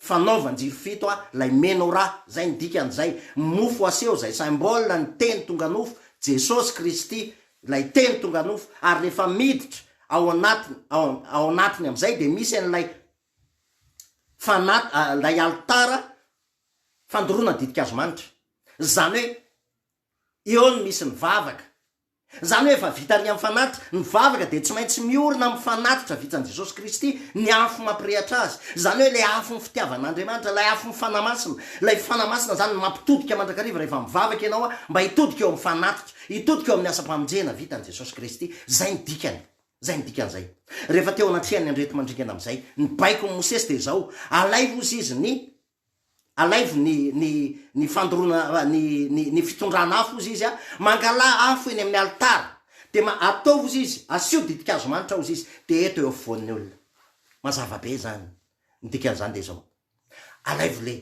fanaovan-jiro fito a, ilay menorà, izay ny dikan'izay, mofo aseho izay symbole ny teny tonga nofo, Jesosy Kristy ilay teny tonga nofo ary rehefa miditra ao anatiny ao anatiny amin'izay dia misy an'ilay fanat ilay alitara fandoroana ditin-kazo manitra izany hoe eo no misy ny vavaka izany hoe efa vita ny amin'ny fanatitra ny vavaka dia tsy maintsy miorina amin'ny fanatitra vitsan'i Jesosy Kristy ny afo mampirehatra azy izany hoe ilay afo ny fitiavan'Andriamanitra ilay afo ny fanahy masina ilay fanahy masina izany mampitodika mandrakariva rehefa mivavaka ianao mba hitodika eo amin'ny fanatitra Hitodika eo amin'ny asam-pamonjena vitan'i Jesosy Kristy. Izay no dikany. Izay no dikan'izay. Rehefa teo anatrehan'ny andreti-mandringana amin'izay, ny baikon'i Mosesy dia izao, Alaivo hozy izy ny, alaivo ny, ny, ny fandoroana, ny, ny, ny fitondrana afo hozy izy, mangalà afo eny amin'ny alitara, dia ma, ataovy hozy izy, asio ditin-kazo manitra hozy izy, dia eto eo afovoan'ny olona. Mazava be izany. Ny dikan'izany dia izao, Alaivo le.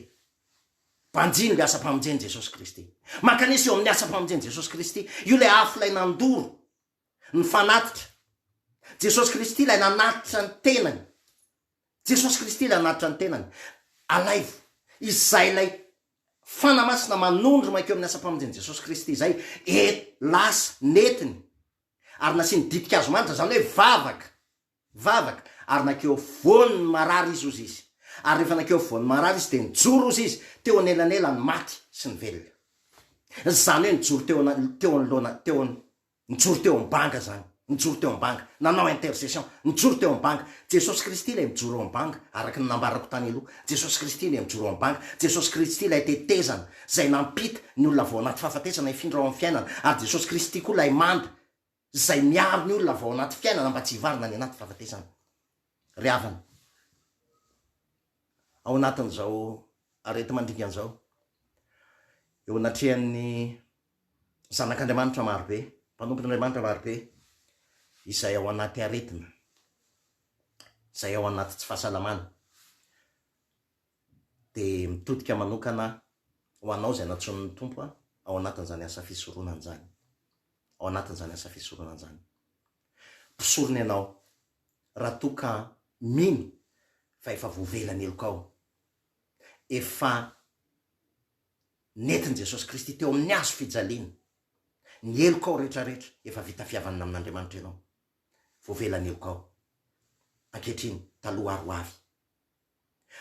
Banjino ilay asam-pamonjen'i Jesosy Kristy. Mankanesa eo amin'ny asam-pamonjen'i Jesosy Kristy. Io ilay afo ilay nandoro ny fanatitra. Jesosy Kristy ilay nanatitra ny tenany. Jesosy Kristy ilay nanatitra ny tenany. Alaivo. Izay ilay Fana Masina manondro mankeo amin'ny asam-pamonjen'i Jesosy Kristy izay et lasa, nentiny, ary nasiany ditin-kazo manitra, izany hoe vavaka. Nivavaka, ary nankeo afovoan' ny marary izy, hozy izy. Ary rehefa nankeo afovoan' ny marary izy, dia nijoro, hozy izy, teo anelanelan' ny maty sy ny velona. Izany hoe nijoro teo ana, teo anoloana, teo an, nijoro teo am-banga izany. Nijoro teo am-banga. Nanao intercession. Nijoro teo am-banga. Jesosy Kristy ilay mijoro eo am-banga, araka ny nambarako tany aloha. Jesosy Kristy ilay mijoro eo am-banga. Jesosy Kristy ilay tetezana, izay nampita ny olona avy ao anaty fahafatesana hifindra ao amin' ny fiainana. Ary Jesosy Kristy koa ilay manda. izay miaro ny olona avy ao anaty fiainana mba tsy hivarina any anaty fahafatesana. Ry havana, ao anatin'izao areti-mandringana izao, eo anatrehan'ny zanak'Andriamanitra marobe, mpanompon'Andriamanitra marobe izay ao anaty aretina, izay ao anaty tsy fahasalamana, dia mitodika manokana ho anao izay nantsoin'ny Tompo ao anatin'izany asa fisoronana izany, ao anatin'izany asa fisoronana izany. Mpisorona ianao, raha toa ka mino fa efa voavela ny helokao, efa nentin'i Jesosy Kristy teo amin'ny hazo fijaliana, ny helokao rehetrarehetra, efa vita fihavanana amin'Andriamanitra ianao, voavela ny helokao ankehitriny, taloha ary ho avy,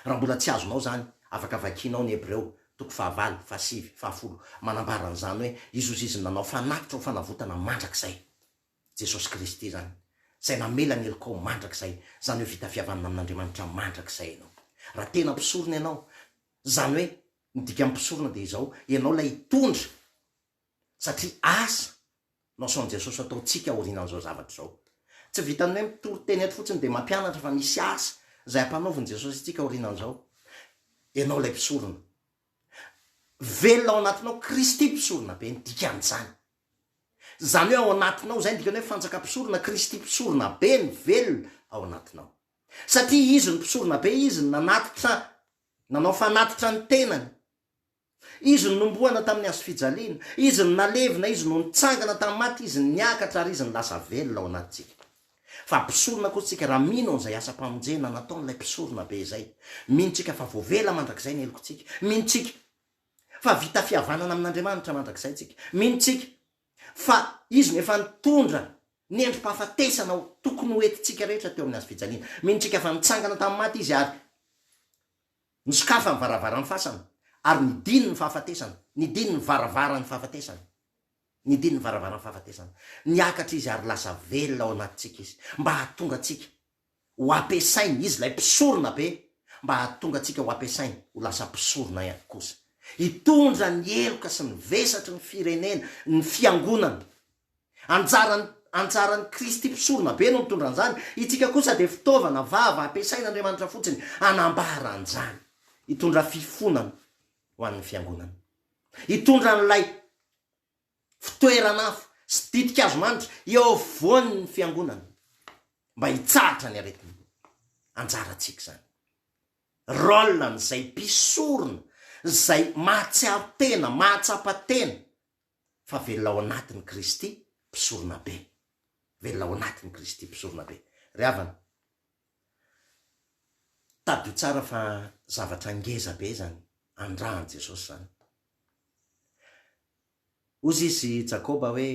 Raha mbola tsy azonao izany, afaka vakianao ny Hebreo, toko fahavalo, fahasivy, fahafolo. Manambara an'izany hoe izozizin'ny nanao fanatitra ho fanavotana mandrakizay. Jesosy Kristy izany, Izay namela ny helokao mandrakizay, izany hoe vita fihavanana amin'Andriamanitra mandrakizay ianao. Raha tena mpisorona ianao, izany hoe, ny dikan'ny mpisorona dia izao, ianao ilay hitondra satria asa no asaon'i Jesosy ataontsika aorianan'izao zavatra izao. Tsy vitan'ny hoe mitory teny eto fotsiny dia mampianatra fa misy asa izay ampanaovin'i Jesosy antsika aorianan'izao. Ianao ilay mpisorona. Velona ao anatinao Kristy mpisorona be ny dikan'izany. Izany hoe ao anatinao izay ny dikany hoe fantsaka mpisorona Kristy mpisorona be ny velona ao anatinao. Satria izy no mpisorona be, izy no nanatitra, nanao fanatitra ny tenany. Izy no nombohana tamin'ny hazo fijaliana, Izy no nalevina, Izy no nitsangana tamin'ny maty, Izy no niakatra ary Izy no lasa velona ao anatintsika. Fa mpisorona koa tsika raha mino an'izay asam-pamonjena nataon'ilay Mpisorona be izay. Mino tsika fa voavela mandrakizay ny helokontsika. Mino tsika fa vita fihavanana amin'Andriamanitra mandrakizay tsika. Mino tsika fa Izy no efa nitondra ny endri-pahafatesana tokony ho entintsika rehetra teo amin'ny hazo fijaliana. Mino tsika fa nitsangana tamin'ny maty Izy ary. Nisokafa ny varavaran'ny fasana, ary nidiny ny fahafatesana, nidiny ny varavaran'ny fahafatesana, nidiny ny varavaran'ny fahafatesana. Niakatra Izy ary lasa velona ao anatintsika Izy, mba hahatonga antsika ho ampiasainy, Izy ilay Mpisorona Be, mba hahatonga antsika ho ampiasainy ho lasa mpisorona ihany kosa, hitondra ny heloka sy ny vesatry ny firenena, ny Fiangonana. Anjaran, anjaran'i Kristy Mpisoronabe no mitondra an'izany, itsika kosa dia fitaovana, vava, ampiasain'Andriamanitra fotsiny hanambara an'izany. Hitondra fifonana ho an'ny Fiangonana. Hitondra an'ilay fitoeran'afo sy ditin-kazo manitra eo afovoan'ny Fiangonana mba hitsahatra ny aretina. Anjarantsika izany. Rôle-n'izay mpisorona, izay mahatsiaro tena, mahatsapa tena, fa velona ao anatin'i Kristy mpisorona be. Velona ao anatin'i Kristy mpisorona be. Ry havana, tadidio tsara fa zavatra ngeza be izany andrahan'i Jesosy izany. Hozy izy Jakoba hoe,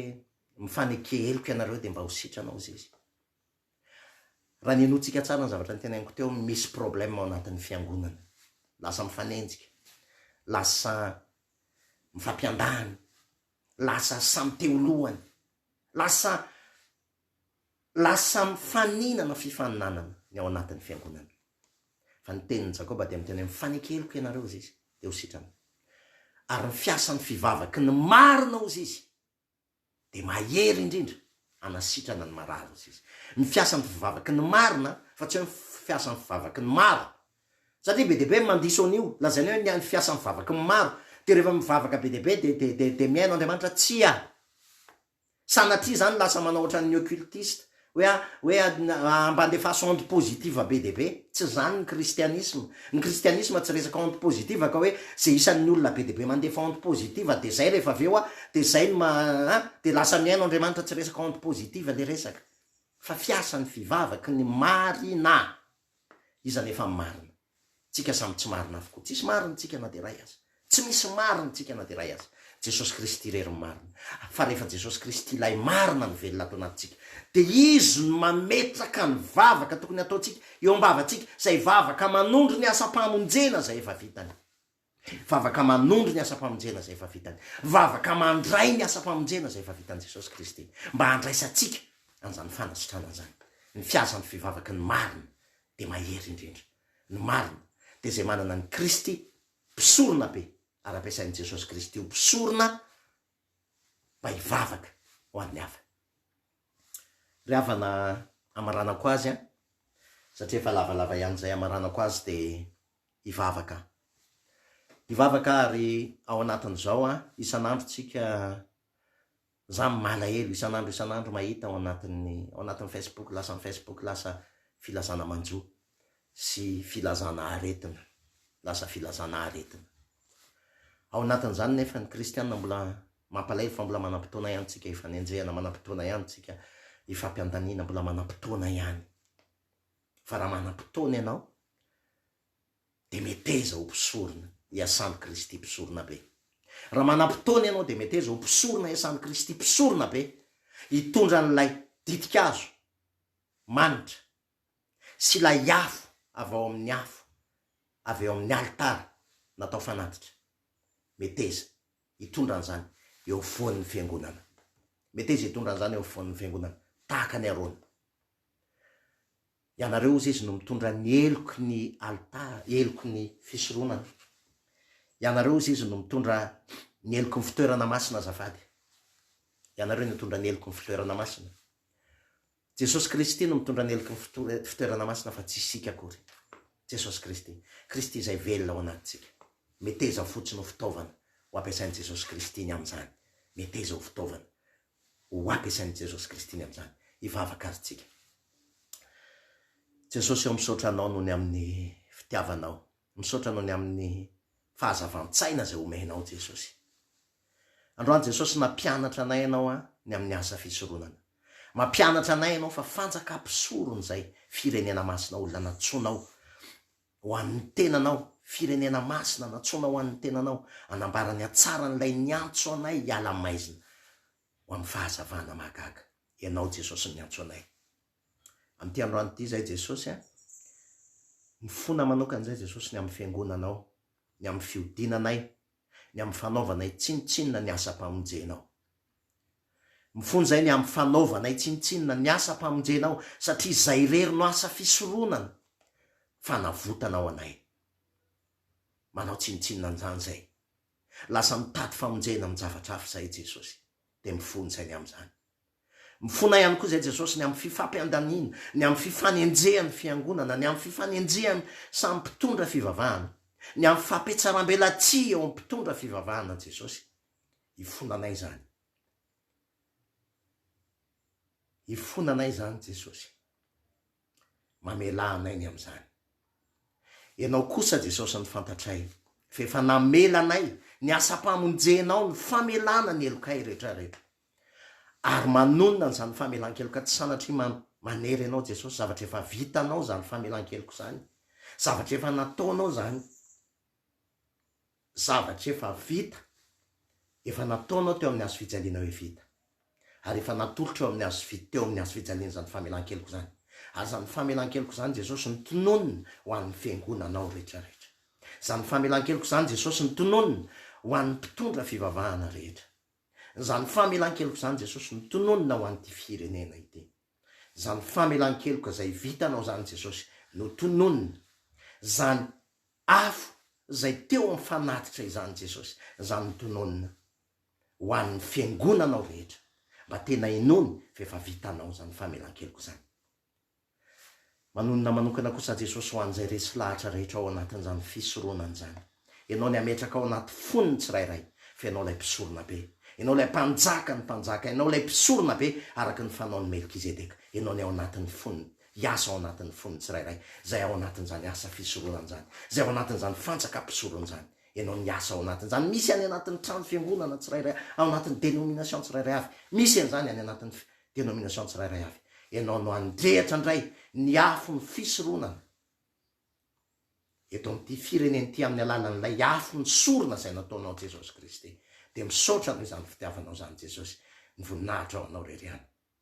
mifaneke heloka ianareo dia mba ho sitrana, hozy izy. Raha ny henoantsika tsara ny zavatra notenainiko teo, misy problème ao anatin'ny fiangonana. Lasa mifanenjika, lasa mifampiandany, lasa samy te ho lohany, lasa lasa mifaninana fifaninanana ny ao anatin'ny fiangonana. Fa ny tenin'i Jakoba dia miteny hoe mifaneke heloka ianareo hozizy dia ho sitrana. Ary ny fiasan'ny fivavaky ny marina hozizy dia mahery indrindra hanasitrana ny marary ny sisa. Ny fiasan'ny fivavaky ny marina fa tsy hoe ny fiasan'ny fivavaky ny maro. Satria be dia be ny mandiso an'io, lazainy hoe ny fiasan'ny fivavaky ny maro, dia rehefa mivavaka be dia be dia dia dia dia mihaino Andriamanitra. Tsia. Sanatria izany lasa manao ohatran'ny occultiste, Hoe a, hoe a, a, mba andefaso onde positive be dia be. Tsy izany ny kristianisma. Ny kristianisma tsy resaka onde positive ka hoe izay isan'ny olona be dia be mandefa onde positive dia izay rehefa avy eo a, dia izay no ma, a, dia lasa mihaino Andriamanitra, tsy resaka onde positive ilay resaka, fa fiasan'ny fivavaky ny marina. Iza anefa ny marina? Tsika samy tsy marina avokoa. Tsisy marina tsika na dia iray aza. Tsy misy marina tsika na dia iray aza. Jesosy Kristy irery no marina. Fa rehefa Jesosy Kristy ilay marina no velona ato anatintsika, dia Izy no mametraka ny vavaka tokony hataontsika eo am-bavantsika, izay vavaka manondro ny asam-pamonjena izay efa vitany. Vavaka manondro ny asam-pamonjena izay efa vitany. Vavaka mandray ny asam-pamonjena izay efa vitan'i Jesosy Kristy, mba handraisantsika an'izany fanasitrana izany. Ny fihazan'ny fivavaky ny marina dia mahery indrindra. Ny marina dia izay manana an'i Kristy mpisorona be, ary ampiasain'i Jesosy Kristy ho mpisorona mba hivavaka ho an'ny hafa. Ry havana, amaranako azy an! Satria efa lavalava ihany izay amaranako azy dia. hivavaka. Hivavaka ary ao anatin'izao an, isan'andro tsika, za malahelo isan'andro isan'andro mahita ao anatin'ny ao anatin'ny Facebook lasa ny Facebook lasa filazana manjo sy filazana aretina, lasa filazana aretina. Ao anatin'izany nefa ny kristiana mbola mampalahelo fa mbola manam-potoana ihany tsika hifanenjehana, manam-potoana ihany tsika hifampiandaniana, mbola manam-potoana ihany. fa raha manam-potoana ianao dia meteza ho mpisorona iasan'i Kristy Mpisoronabe. Raha manam-potoana ianao dia meteza ho mpisorona iasan'i Kristy Mpisoronabe, hitondra an'ilay ditin-kazo manitra sy ilay afo avy ao amin'ny afo avy eo amin'ny alitara natao fanatitra. Meteza hitondra an'izany eo afovoan'ny Fiangonana. Meteza hitondra an'izany eo afovoan'ny Fiangonana, tahaka an'i Arona. Ianareo hozy izy no mitondra ny heloky ny alitara, heloky ny fisoronana. Ianareo hozy izy no mitondra ny heloky ny fitoerana masina azafady. Ianareo no hitondra ny heloky ny fitoerana masina. Jesosy Kristy no mitondra ny heloky ny fitoerana masina fa tsy isika akory. Jesosy Kristy. Kristy izay velona ao anatintsika. Meteza fotsiny ho fitaovana ho ampiasain'i Jesosy Kristy ny amin'izany. Meteza ho fitaovana. ho ampiasain'i Jesosy Kristy ny amin'izany. Hivavaka ary tsika. Jesosy ô, misaotra Anao noho ny amin'ny fitiavanao. Misaotra noho ny amin'ny fahazavan-tsaina izay omenao Jesosy. Androany Jesosy nampianatra anay Ianao an, ny amin'ny asa fisoronana. Mampianatra anay Ianao fa fanjaka mpisorona izay, firenena masina, olona nantsoinao. Ho an'ny tenanao, firenena masina, nantsoina ho an'ny tenanao, hanambara ny hatsaran'ilay niantso anay hiala maizina ho amin'ny fahazavana mahagaga. Ianao Jesosy no niantso anay. Amin'ity androany ity izahay Jesosy a, mifona manokana izahay Jesosy ny amin'ny fiangonanao, ny amin'ny fihodinanay, ny amin'ny fanaovanay tsinontsinona ny asam-pamonjenao. Mifonjay ny amin'ny fanaovanay tsinontsinona ny asam-pamonjenao, satria izay irery no asa fisoronana, fanavotanao anay. Manao tsinontsinona an'izany izay. Lasa mitady famonjena amin-javatra hafa izahay, Jesosy, dia mifonjay ny amin'izany. Mifona ihany koa izay Jesosy ny amin'ny fifampiandaniana, ny amin'ny fifanenjehan'ny Fiangonana, ny amin'ny fifanenjehan'ny samy mpitondra fivavahana, ny amin'ny fampitsaram-belatsihy eo amin'ny mpitondra fivavahana Jesosy. Hifona anay izany. Hifona anay izany Jesosy. Mamelà anay ny amin'izany. Ianao kosa Jesosy no fantatray fa efa namela anay ny asam-pamonjenao ny famelana ny helokay retraretra. Ary manonona an'izany famelan-keloka tsy sanatria man, manery Ianao Jesosy, zavatra efa vitanao izany famelan-keloko izany, zavatra efa nataonao izany. Zavatra efa vita, efa nataonao teo amin'ny hazo fijaliana hoe vita. Ary efa natolotro eo amin'ny hazo fi, teo amin'ny hazo fijaliana izany famelan-keloka izany. Ary izany famelan-keloka izany Jesosy no tononina ho an'ny Fiangonanao rehetra rehetra. Izany famelan-keloka izany Jesosy no tononina ho an'ny mpitondra fivavahana rehetra. Izany famelan-keloka izany Jesosy no tononina ho an'ity firenena ity. Izany famelan-keloka izay vitanao izany Jesosy no tononina. Izany Afo izay teo amin'ny fanatitra izany Jesosy, izany notononina ho an'ny Fiangonanao rehetra, mba tena hinoany fa efa vitanao izany famelan-keloka izany. Manonona manokana kosa Jesosy ho an'izay resy lahatra rehetra ao anatin'izany fisoronana izany. Ianao ny hametraka ao anaty fony ny tsirairay fa Ianao ilay Mpisorona Be. Ianao ilay Mpanjakan'ny mpanjaka. Ianao ilay Mpisoronabe araka ny fanaon'i Melkizedeka. Ianao ny ao anatin'ny foniny. hiasa ao anatin'ny fon'ny tsirairay, izay ao anatin'izany asa fisoronana izany, izay ao anatin'izany fantsakam-pisorona izany. Ianao ny hiasa ao anatin'izany. Misy any anatin'ny trano fiangonana tsirairay, ao anatin'ny dénomination tsirairay avy. Misy an'izany any anatin'ny dénomination tsirairay avy. Ianao no handrehitra indray ny afon'ny fisoronana eto amin'ity firenena ity amin'ny alalan'ilay afo misorona izay nataonao Jesosy Kristy. Dia misaotra noho izany fitiavanao izany Jesosy. Ny voninahitra ho anao rery ihany.